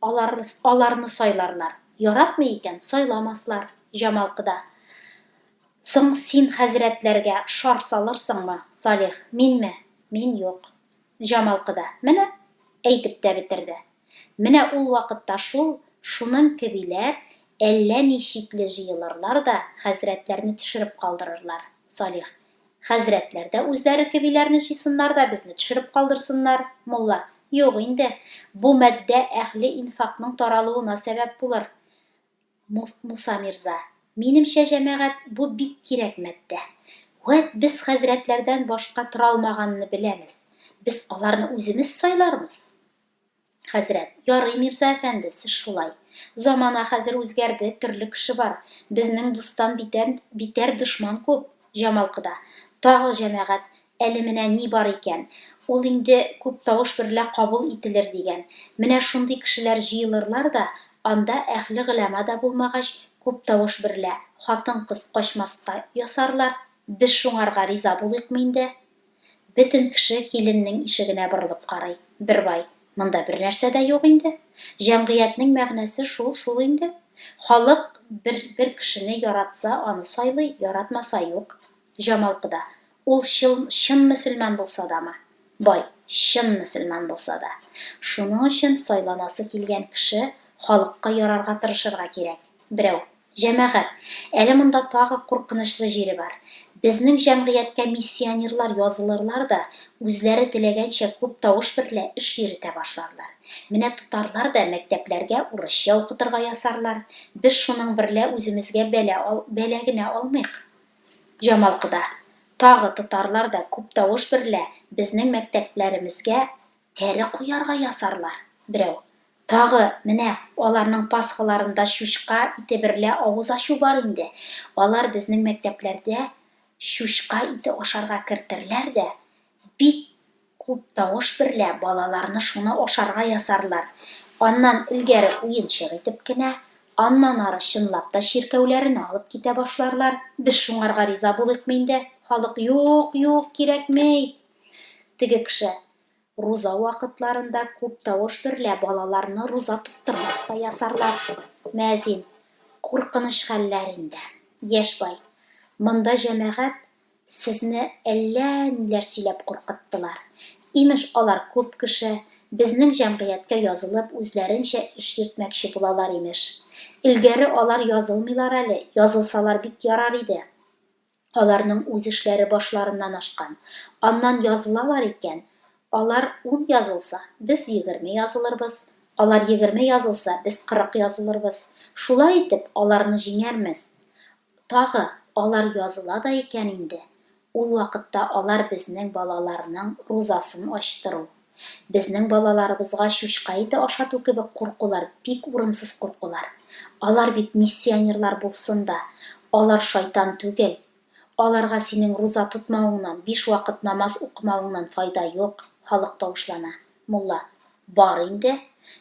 Алар аларны сайларлар. Яратмый икән, сайламаслар. Җамалкда. Соң син хәзрәтләргә шар салырсыңмы? Салих. Минме? Мин юк. Җамалкда. Менә! Әйтеп тә бетерде. Менә ул вакытта шул, шуның кебиләр әллә ни чикле җыелырлар да хәзрәтләрне төшереп калдырырлар. Салих. Хәзрәтләр дә үзләре кебиләрне җыйсыннар да безне төшереп калдырсыннар, мулла, юк инде, бу матдә әһле инфакның таралуына сәбәп булыр. Муса мирза, минемчә, җәмәгать, бу бик кирәк матдә. Вәт без хәзрәтләрдән башка торалмаганны беләмез. Без аларны үземез сайлармыз. Хәзрәт, ярый, мирза әфәнде, сез шулай. Замана хәзер үзгәрде, төрле кеше бар. Безнең дустан битәр, битәр дошман күп. Җамалкыда. Тагы җәмәгать, әле менә ни бар икән, ул инде күп тавыш берлә кабул ителер дигән. Менә шундый кешеләр җыелырлар да, анда әһле гыйләма да булмагач, күп тавыш берлә, хатын-кыз качмаска ясарлар. Без шуңарга риза булыйкмы инде? Бөтен кеше киленнең ишегенә борылып карый. Бер бай, Монда бернәрсә дә юк инде. Җәмгыятьнең мәгънәсе шул шул инде. Халык бер бер кешене яратса, аны сайлый, яратмаса, юк. Җамалкыда, Ул чыл чын мөселман булса дамы? Бай, Чын мөселман булса да. Шуның өчен сайланасы килгән кеше халыкка ярарга тырышырга кирәк. Берәү. Җәмәгать, әле монда тагы куркынычлы җире бар. Безнең җәмгыятькә миссионерлар язылырлар да, үзләре теләгәнчә күп тавыш берлә эш йөретә башларлар. Менә тотарлар да мәктәпләргә урысча укытырга ясарлар. Без шуның берлә үземезгә бәла ал, бәла генә алмыйк. Җамал кода. Тагы тотарлар да күп тавыш берлә безнең мәктәпләремезгә Кәре куярга ясарлар, берәү. Тагы, менә, аларның пасхаларында чучка ите берлә авыз ачу бар инде. Алар безнең мәктәпләрдә чучка ите ашарга кертерләр дә, бик күп тавыш берлә балаларны шуны ашарга ясарлар. Аннан элгәре уенчык итеп кенә, аннан ары чынлап та чиркәүләренә алып китә башларлар. Без шуңарга риза булыйкмы инде, халык, юк, юк, кирәкми! Теге кеше, Руза вакытларында күп тавыш берлә балаларны руза тоттырмас та ясарлар. Мөәзин, Куркыныч хәлләр инде. Яшь бай, Монда җәмәгать сезне әллә ниләр сөйләп куркыттылар. Имеш, алар күп кеше, безнең җәмгыятькә язылып, үзләренчә эш йөртмәкче булалар, имеш. Элгәре алар язылмыйлар әле, язылсалар бик ярар иде. Аларның үз эшләре башларыннан ашкан. Аннан язылалар икән, алар ун язылса, без егерме язылырбыз, алар егерме язылса, без кырык язылырбыз. Шулай итеп, аларны җиңәрмез. Тагы, алар языла да икән инде, ул вакытта алар безнең балаларның рузасын ачтыру. Безнең балаларыбызга чучка ите ашату кебек куркулар бик урынсыз куркулар. Алар бит миссионерлар булсын да, алар шайтан түгел. Аларга синең руза тотмавыңнан, биш вакыт намаз укымавыңнан файда юк, халык тавышлана. Мулла. Бар инде.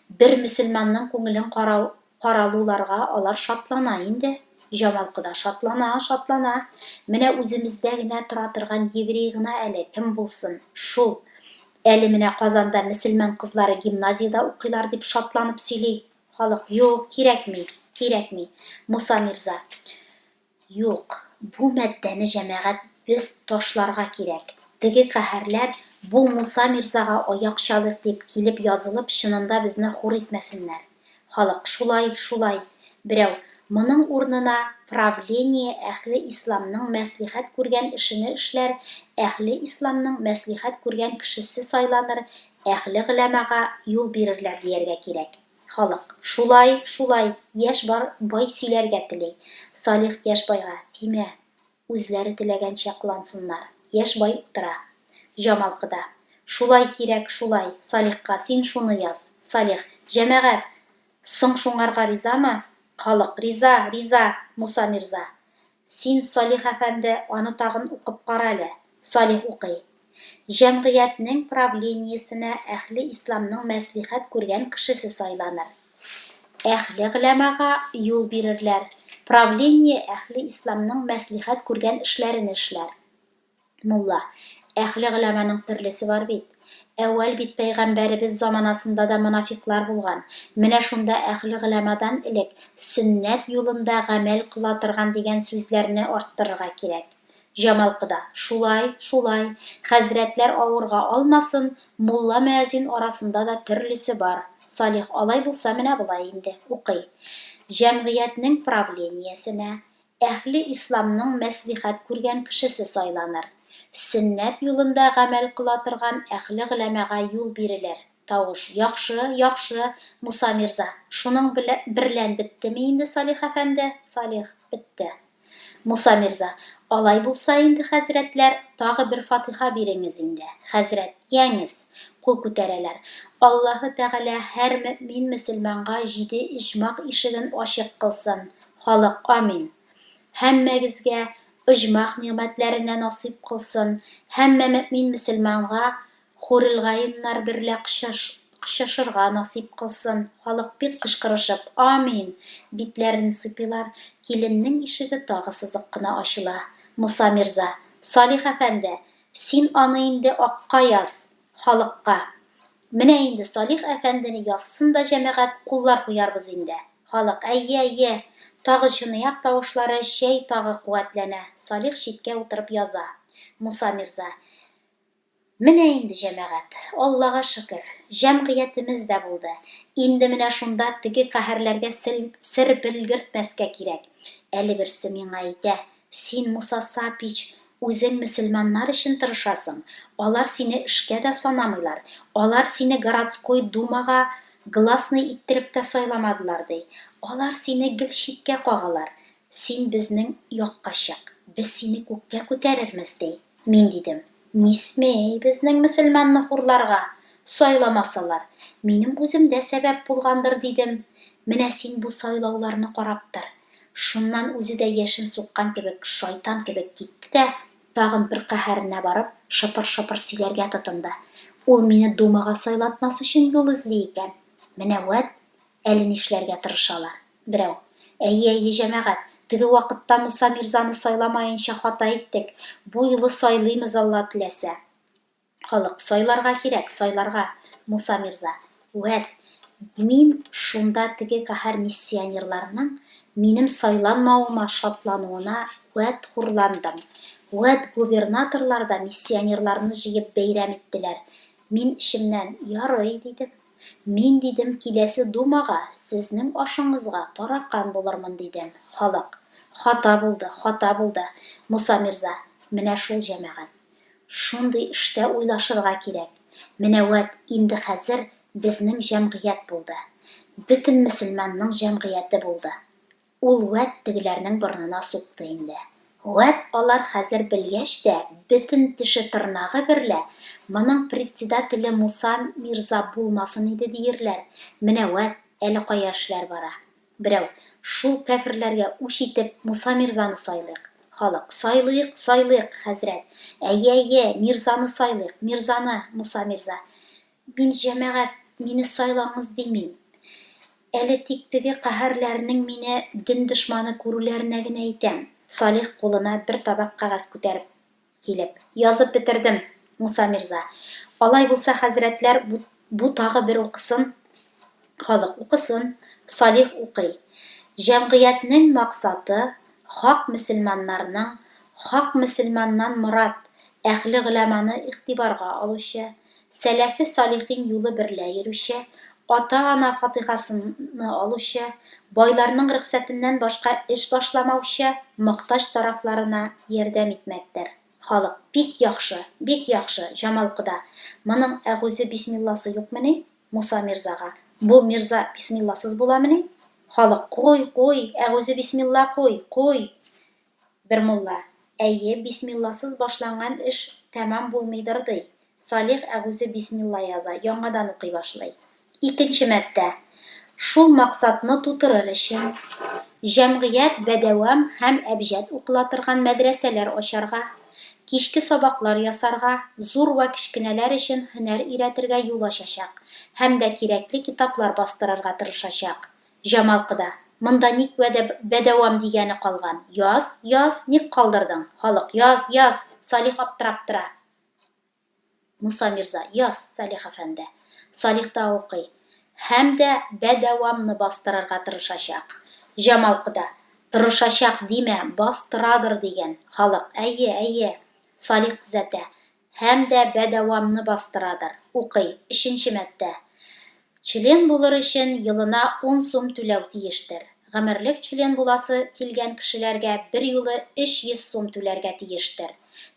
Бер мөселманның күңелен карау Каралуларга алар шатлана инде. Җамал кода шатлана, шатлана. Менә үземездә генә тора торган еврей гына әле, кем булсын, шул. Әле менә Казанда мөселман кызлары гимназиядә укыйлар, дип шатланып сөйли. Халык, юк, кирәкми, кирәкми, Муса мирза. Юк, бу маддәне җәмәгать без ташларга кирәк. Теге каһәрләр бу Муса мирзага аяк чалыйк дип килеп язылып чынында безне хур итмәсеннәр. Халык, шулай, шулай. Берәү, моның урынына правление әһле исламның мәслихәт күргән эшене эшләр, әһле исламның мәслихәт күргән кешесе сайланыр, әһле гөләмага юл бирерләр дияргә кирәк. Халык, Шулай, шулай, яшь бар, бай сөйләргә тели. Салих яшь байга, Тимә, үзләре теләгәнчә кылансыннар. Яшь бай утыра. Җамал кыда, Шулай кирәк, шулай, Салихка син шуны яз. Салих, Җәмәгать, соң шуңарга ризамы? Халык, Риза, риза, Муса мирза. Син, Салих әфәнде, аны тагын укып кара әле. Салих укый. Җәмгыятьнең правлениесенә әһле исламның мәслихәт күргән кешесе сайланыр. Әһле гъләмага юл бирерләр, правление әһле исламның мәслихәт күргән эшләрен эшләр. Мулла, әхле голәманың төрлесе бар бит. Әүвәл бит пәйгамбәребез заманасында да монафикълар булган. Менә шунда әхле голәмадан элек сөннәт юлында гамәл кыла торган дигән сүзләрне арттырырга кирәк. Җамал кода, шулай, шулай, хәзрәтләр авырга алмасын, мулла-мөәзин арасында да төрлесе бар. Салих, алай булса, менә болай инде, укый. Җәмгыятьнең правлениесенә, Әһле Исламның мәслихәт күргән кешесе сайланыр. Сөннәт юлында гамәл кыла торган әһле голәмага юл бирелер. Тавыш, Яхшы, яхшы, Муса мирза. Шуның белә берлән беттеме инде, Салих әфәнде? Салих, Бетте. Муса мирза, Алай булса инде, хәзрәтләр, тагы бер фатыйха биреңез инде. Хәзрәт, Йәңез! Кул күтәрәләр. Аллаһы Тәгалә һәр мөэмин-мөселманга җиде иҗмак ишеген ачык кылсын. Халык амин! Һәммәгезгә оҗмах нигъмәтләренә насыйп кылсын, һәммә мөэмин мөселманга хурелгаиннар берлә кочашырга насыйп кылсын, халык бик кычкырышып, амин! битләрен сыйпыйлар, киленнең ишеге тагы сызык кына ачыла, Муса мирза, Салих әфәнде, син аны инде акка яз! халыкка. Менә инде Салих әфәндене язсын да җәмәгать, куллар куярбыз инде. Халык, әйе, әйе. Тагы чыныяк тавышлары, чәй тагы куәтләнә. Салих читкә утырып яза. Муса мирза. Менә инде җәмәгать. Аллага шөкер. Җәмгыятемез дә булды. Инде менә шунда теге каһәрләргә сел, сер белгертмәскә кирәк. Әле берсе миңа әйтә, Син, Муса Сапич, үзең мөселманнар өчен тырышасың, алар сине эшкә дә санамыйлар, алар сине городской думага гласный иттереп тә сайламадылар, ди. Алар сине гел читкә кагалар. Син безнең якка чык, без сине күккә күтәрермез, ди. Мин дидем, Не смей безнең мөселманны хурларга, сайламасалар, минем үзем дә сәбәп булгандыр, дидем. Менә син бу сайлауларны карап тор. Шуннан үзе дә яшен суккан кебек, шайтан кебек китте дә, тагын бер каһәренә барып, шыпыр-шыпыр сөйләргә тотынды. Ул мине Думага сайлатмас өчен юл эзли икән. Менә вәт, әле нишләргә тырышалар. Берәү. Әйе, әйе, җәмәгать, теге вакытта Муса мирзаны сайламаенча хата иттек, бу юлы сайлыймыз, Алла теләсә. Халык. Сайларга кирәк, сайларга, Муса мирза. Вәт, мин шунда теге каһәр миссионерларның минем сайланмавыма шатлануына вәт хурландым. Вәт, губернаторлар да миссионерларны җыеп бәйрәм иттеләр. Мин эчемнән, Ярый, дидем. Мин, дидем, киләсе думага сезнең ашыңызга таракан булырмын, дидем. Халык. Хата булды, хата булды, Муса мирза, менә шул җәмәгать. Шундый эштә уйлашырга кирәк. Менә вәт инде хәзер безнең җәмгыять булды. Бөтен мөселманның җәмгыяте булды. Ул вәт тегеләрнең борынына сукты инде. Вәт алар хәзер белгәч тә, бөтен теше-тырнагы берлә, Моның председателе Муса мирза булмасын иде диерләр. Менә вәт, әле кая эшләр бара. Берәү, Шул кәферләргә үч итеп, Муса мирзаны сайлыйк. Халык, Сайлыйк, сайлыйк, хәзрәт! Әйе, әйе, мирзаны сайлыйк, мирзаны, Муса мирза! Мин, җәмәгать, мине сайлагыз димим. Әле тик теге каһәрләренең мине дин дошманы күрүләренә генә әйтәм. Салих кулына бер табак кәгазь күтәреп килеп. Язып бетердем, Муса мирза. Алай булса, хәзрәтләр бу тагы бер укысын. Халык укысын, Салих укый. Җәмгыятьнең максаты, хак мөселманнарның, хак мөселманнан морад, әһле гөламаны игътибарга алучы, сәләфе салихин юлы берлә йөрүче, ата-ана фатихасыны алучы, байларның рөхсәтеннән башка эш башламаучы, мохтаҗ тарафларына ярдәм итмәктер. Халык, Бик яхшы, бик яхшы, Җамал кода, моның әгузе бисмилласы юкмени? Муса мирзага. Бу мирза бисмилласыз буламыни? Халык. Куй, куй, әгузе бисмилла куй, куй! Бер мулла. Әйе, бисмилласыз башланган эш тәмам булмыйдыр, ди. Салих әгузе бисмилла яза, яңадан укый башлый. Икенче маддә. Шул максатны тутырыр өчен, җәмгыять бәдәвам һәм әбҗәд укыла торган мәдрәсәләр ачарга. кичке сабаклар ясарга, зур вә кечкенәләр өчен һөнәр өйрәтергә юл ачачак һәм дә кирәкле китаплар бастырырга тырышачак. Җамал кода, Монда ник вәдә бәдәвам дигәне калган? Яз, яз, ник калдырдың? Халык, Яз, яз! Салих аптырап тора. Муса мирза, яз, Салих әфәнде. Салих та укый. Һәм дә бәдәвамны бастырырга тырышачак. Җамал кода, Тырышачак димә, бастырадыр, дигән. Халык, Әйе, әйе. Салих төзәтә. Һәм дә бәдәвамны бастырадыр. Укый. Өченче маддә. Член булыр өчен елына ун сум түләү тиештер. Гомерлек член буласы килгән кешеләргә берьюлы 300 сум түләргә тиештер.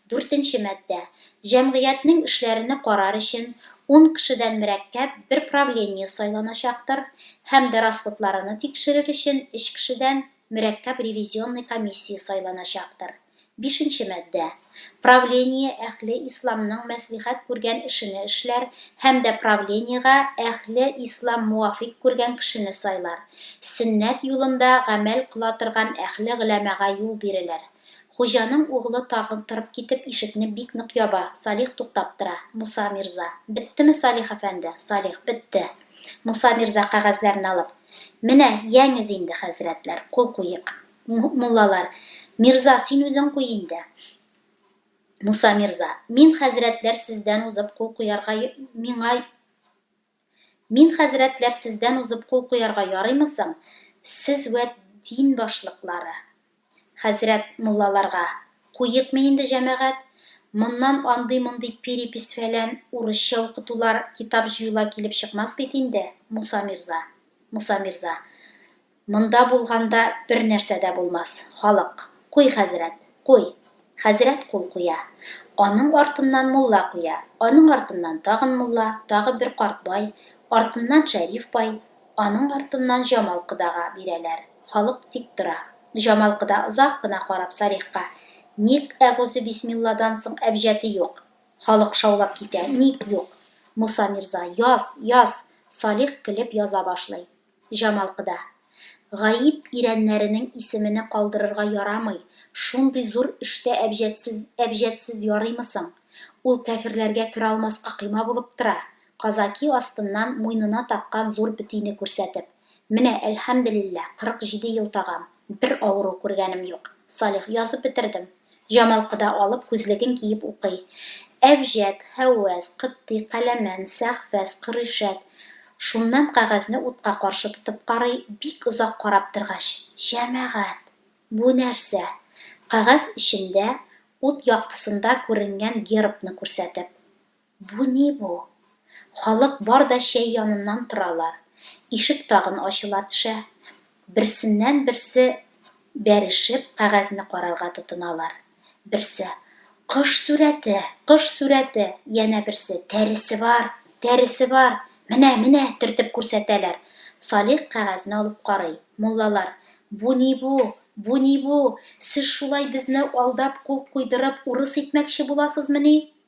Дүртенче маддә. Җәмгыятьнең эшләрене карар өчен ун кешедән мөрәккәп бер правление сайланачактыр һәм дә расходларыны тикшерер өчен өч кешедән мөрәккәп ревизионный комиссия сайланачактыр. Бишенче маддә. Правление әһле исламның мәслихәт күргән эшене эшләр һәм дә правлениегә әһле ислам муафикъ күргән кешене сайлар. Сөннәт юлында гамәл кыла торган әһле гөләмага юл бирелер. Хуҗаның углы тагын торып китеп ишекне бик нык яба, Салих туктап тора, Муса мирза. Беттеме, Салих әфәнде? Салих. Бетте. Муса мирза кәгазьләрне алып. Менә, янез инде, хәзрәтләр, кул куйыйк. Муллалар, Мирза, син үзең куй инде. Муса Мирза, мин хәзрәтләр сездән узып кул куярга миңа Мин хәзрәтләр сездән узып кул куярга ярыймы соң? Сез вә дин башлыклары. Хәзрәт муллаларга, куекмы инде җәмәгать? Моннан андый-мондый перепись-фәлән, урысча укытулар, китап җыюлар килеп чыкмас бит инде, Муса Мирза. Муса Мирза. Монда булганда бер нәрсә дә булмас, халык, куй, хәзрәт, куй! Хәзрәт кул куя. Аның артыннан мулла куя, аның артыннан тагын мулла, тагы бер карт бай, артыннан Шәриф бай, аның артыннан Җамал кодага бирәләр. Халык тик тора. Җамал кода озак кына карап Салихка, Ник әгузебисмилладан соң әбҗәте юк? Халык шаулап китә, Ник юк? Муса мирза, яз, яз! Салих көлеп яза башлый. Җамал кода. Гаип ирәннәренең исемене калдырырга ярамый, шундый зур эштә әбҗәтсез, әбҗәтсез ярыймы соң? Ул кәферләргә керә алмаска койма булып тора, казаки астыннан муйнына таккан зур бетине күрсәтеп. Менә, әлхәмделилләһ, кырык җиде ел тагам, бер авыру күргәнем юк. Салих, язып бетердем. Җамал кода алып, күзлеген киеп укый. Әбҗәд, Һәүвәз, Котти, Каләмән, Сәхфәз, Коришәт. Шуннан кәгазьне утка каршы тотып карый, бик озак карап торгач, Җәмәгать! Бу нәрсә? Кәгазь эчендә ут яктысында күренгән гербны күрсәтеп. Бу ни бу? Халык бар да чәй яныннан торалар. Ишек тагын ачыла тшә. Берсеннән берсе бәрешеп кәгазьне карарга тотыналар. Берсе, Кош сурәте, кош сурәте! Янә берсе, Тәресе бар, тәресе бар! Менә, менә! төртеп күрсәтәләр. Салих кәгазьне алып карый. Муллалар, Бу ни бу? Бу ни бу? Сез шулай безне алдап кул куйдырып урыс итмәкче буласызмыни?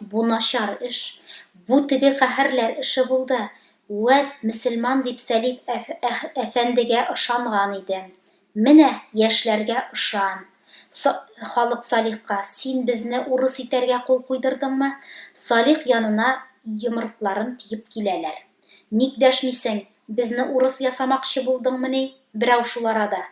Бу начар эш. Бу теге каһәрләр эше булды. Вәт, мөселман дип Сәлим әфәндегә ышанган иде. Менә, яшьләргә ышан. Халык Салихка, Син безне урыс итәргә кул куйдырдыңмы? Салих янына йомырыкларын тиеп киләләр. Ник дәшмисең, безне урыс ясамакчы булдыңмыни берәү шул арада?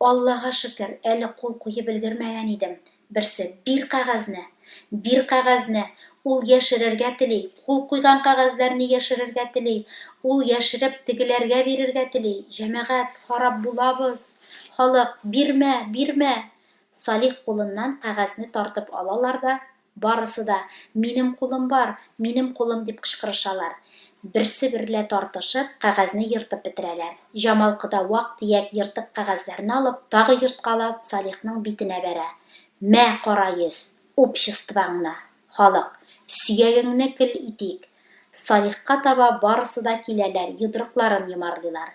Аллага шөкер, әле кул куеп өлгермәгән идем, берсе, Бир кәгазьне! Бир кәгазьне! Ул яшерергә тели, кул куйган кәгазьләрне яшерергә тели, ул яшереп, тегеләргә бирергә тели. Җәмәгать, харап булабыз! Халык, Бирмә, бирмә! Салих кулыннан кәгазьне тартып алалар да. Барысы да, Минем кулым бар, минем кулым, дип кычкырышалар. Берсе берлә тартышып, кәгазьне ертып бетерәләр. Җамал кода вак-төяк ертык кәгазьләрне алып, тагы ерткалап, Салихның битенә бәрә. Мә, кара йөз, обществоңны, халык, сөягеңне көл итик! Салихка таба барысы да киләләр, йодрыкларын йомарлыйлар.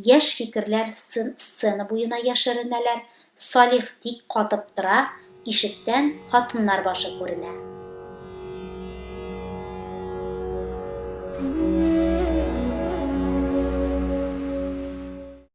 Яшь фикерләр сцен-сцена буена яшеренәләр. Салих тик катып тора, ишектән хатыннар башы күренә.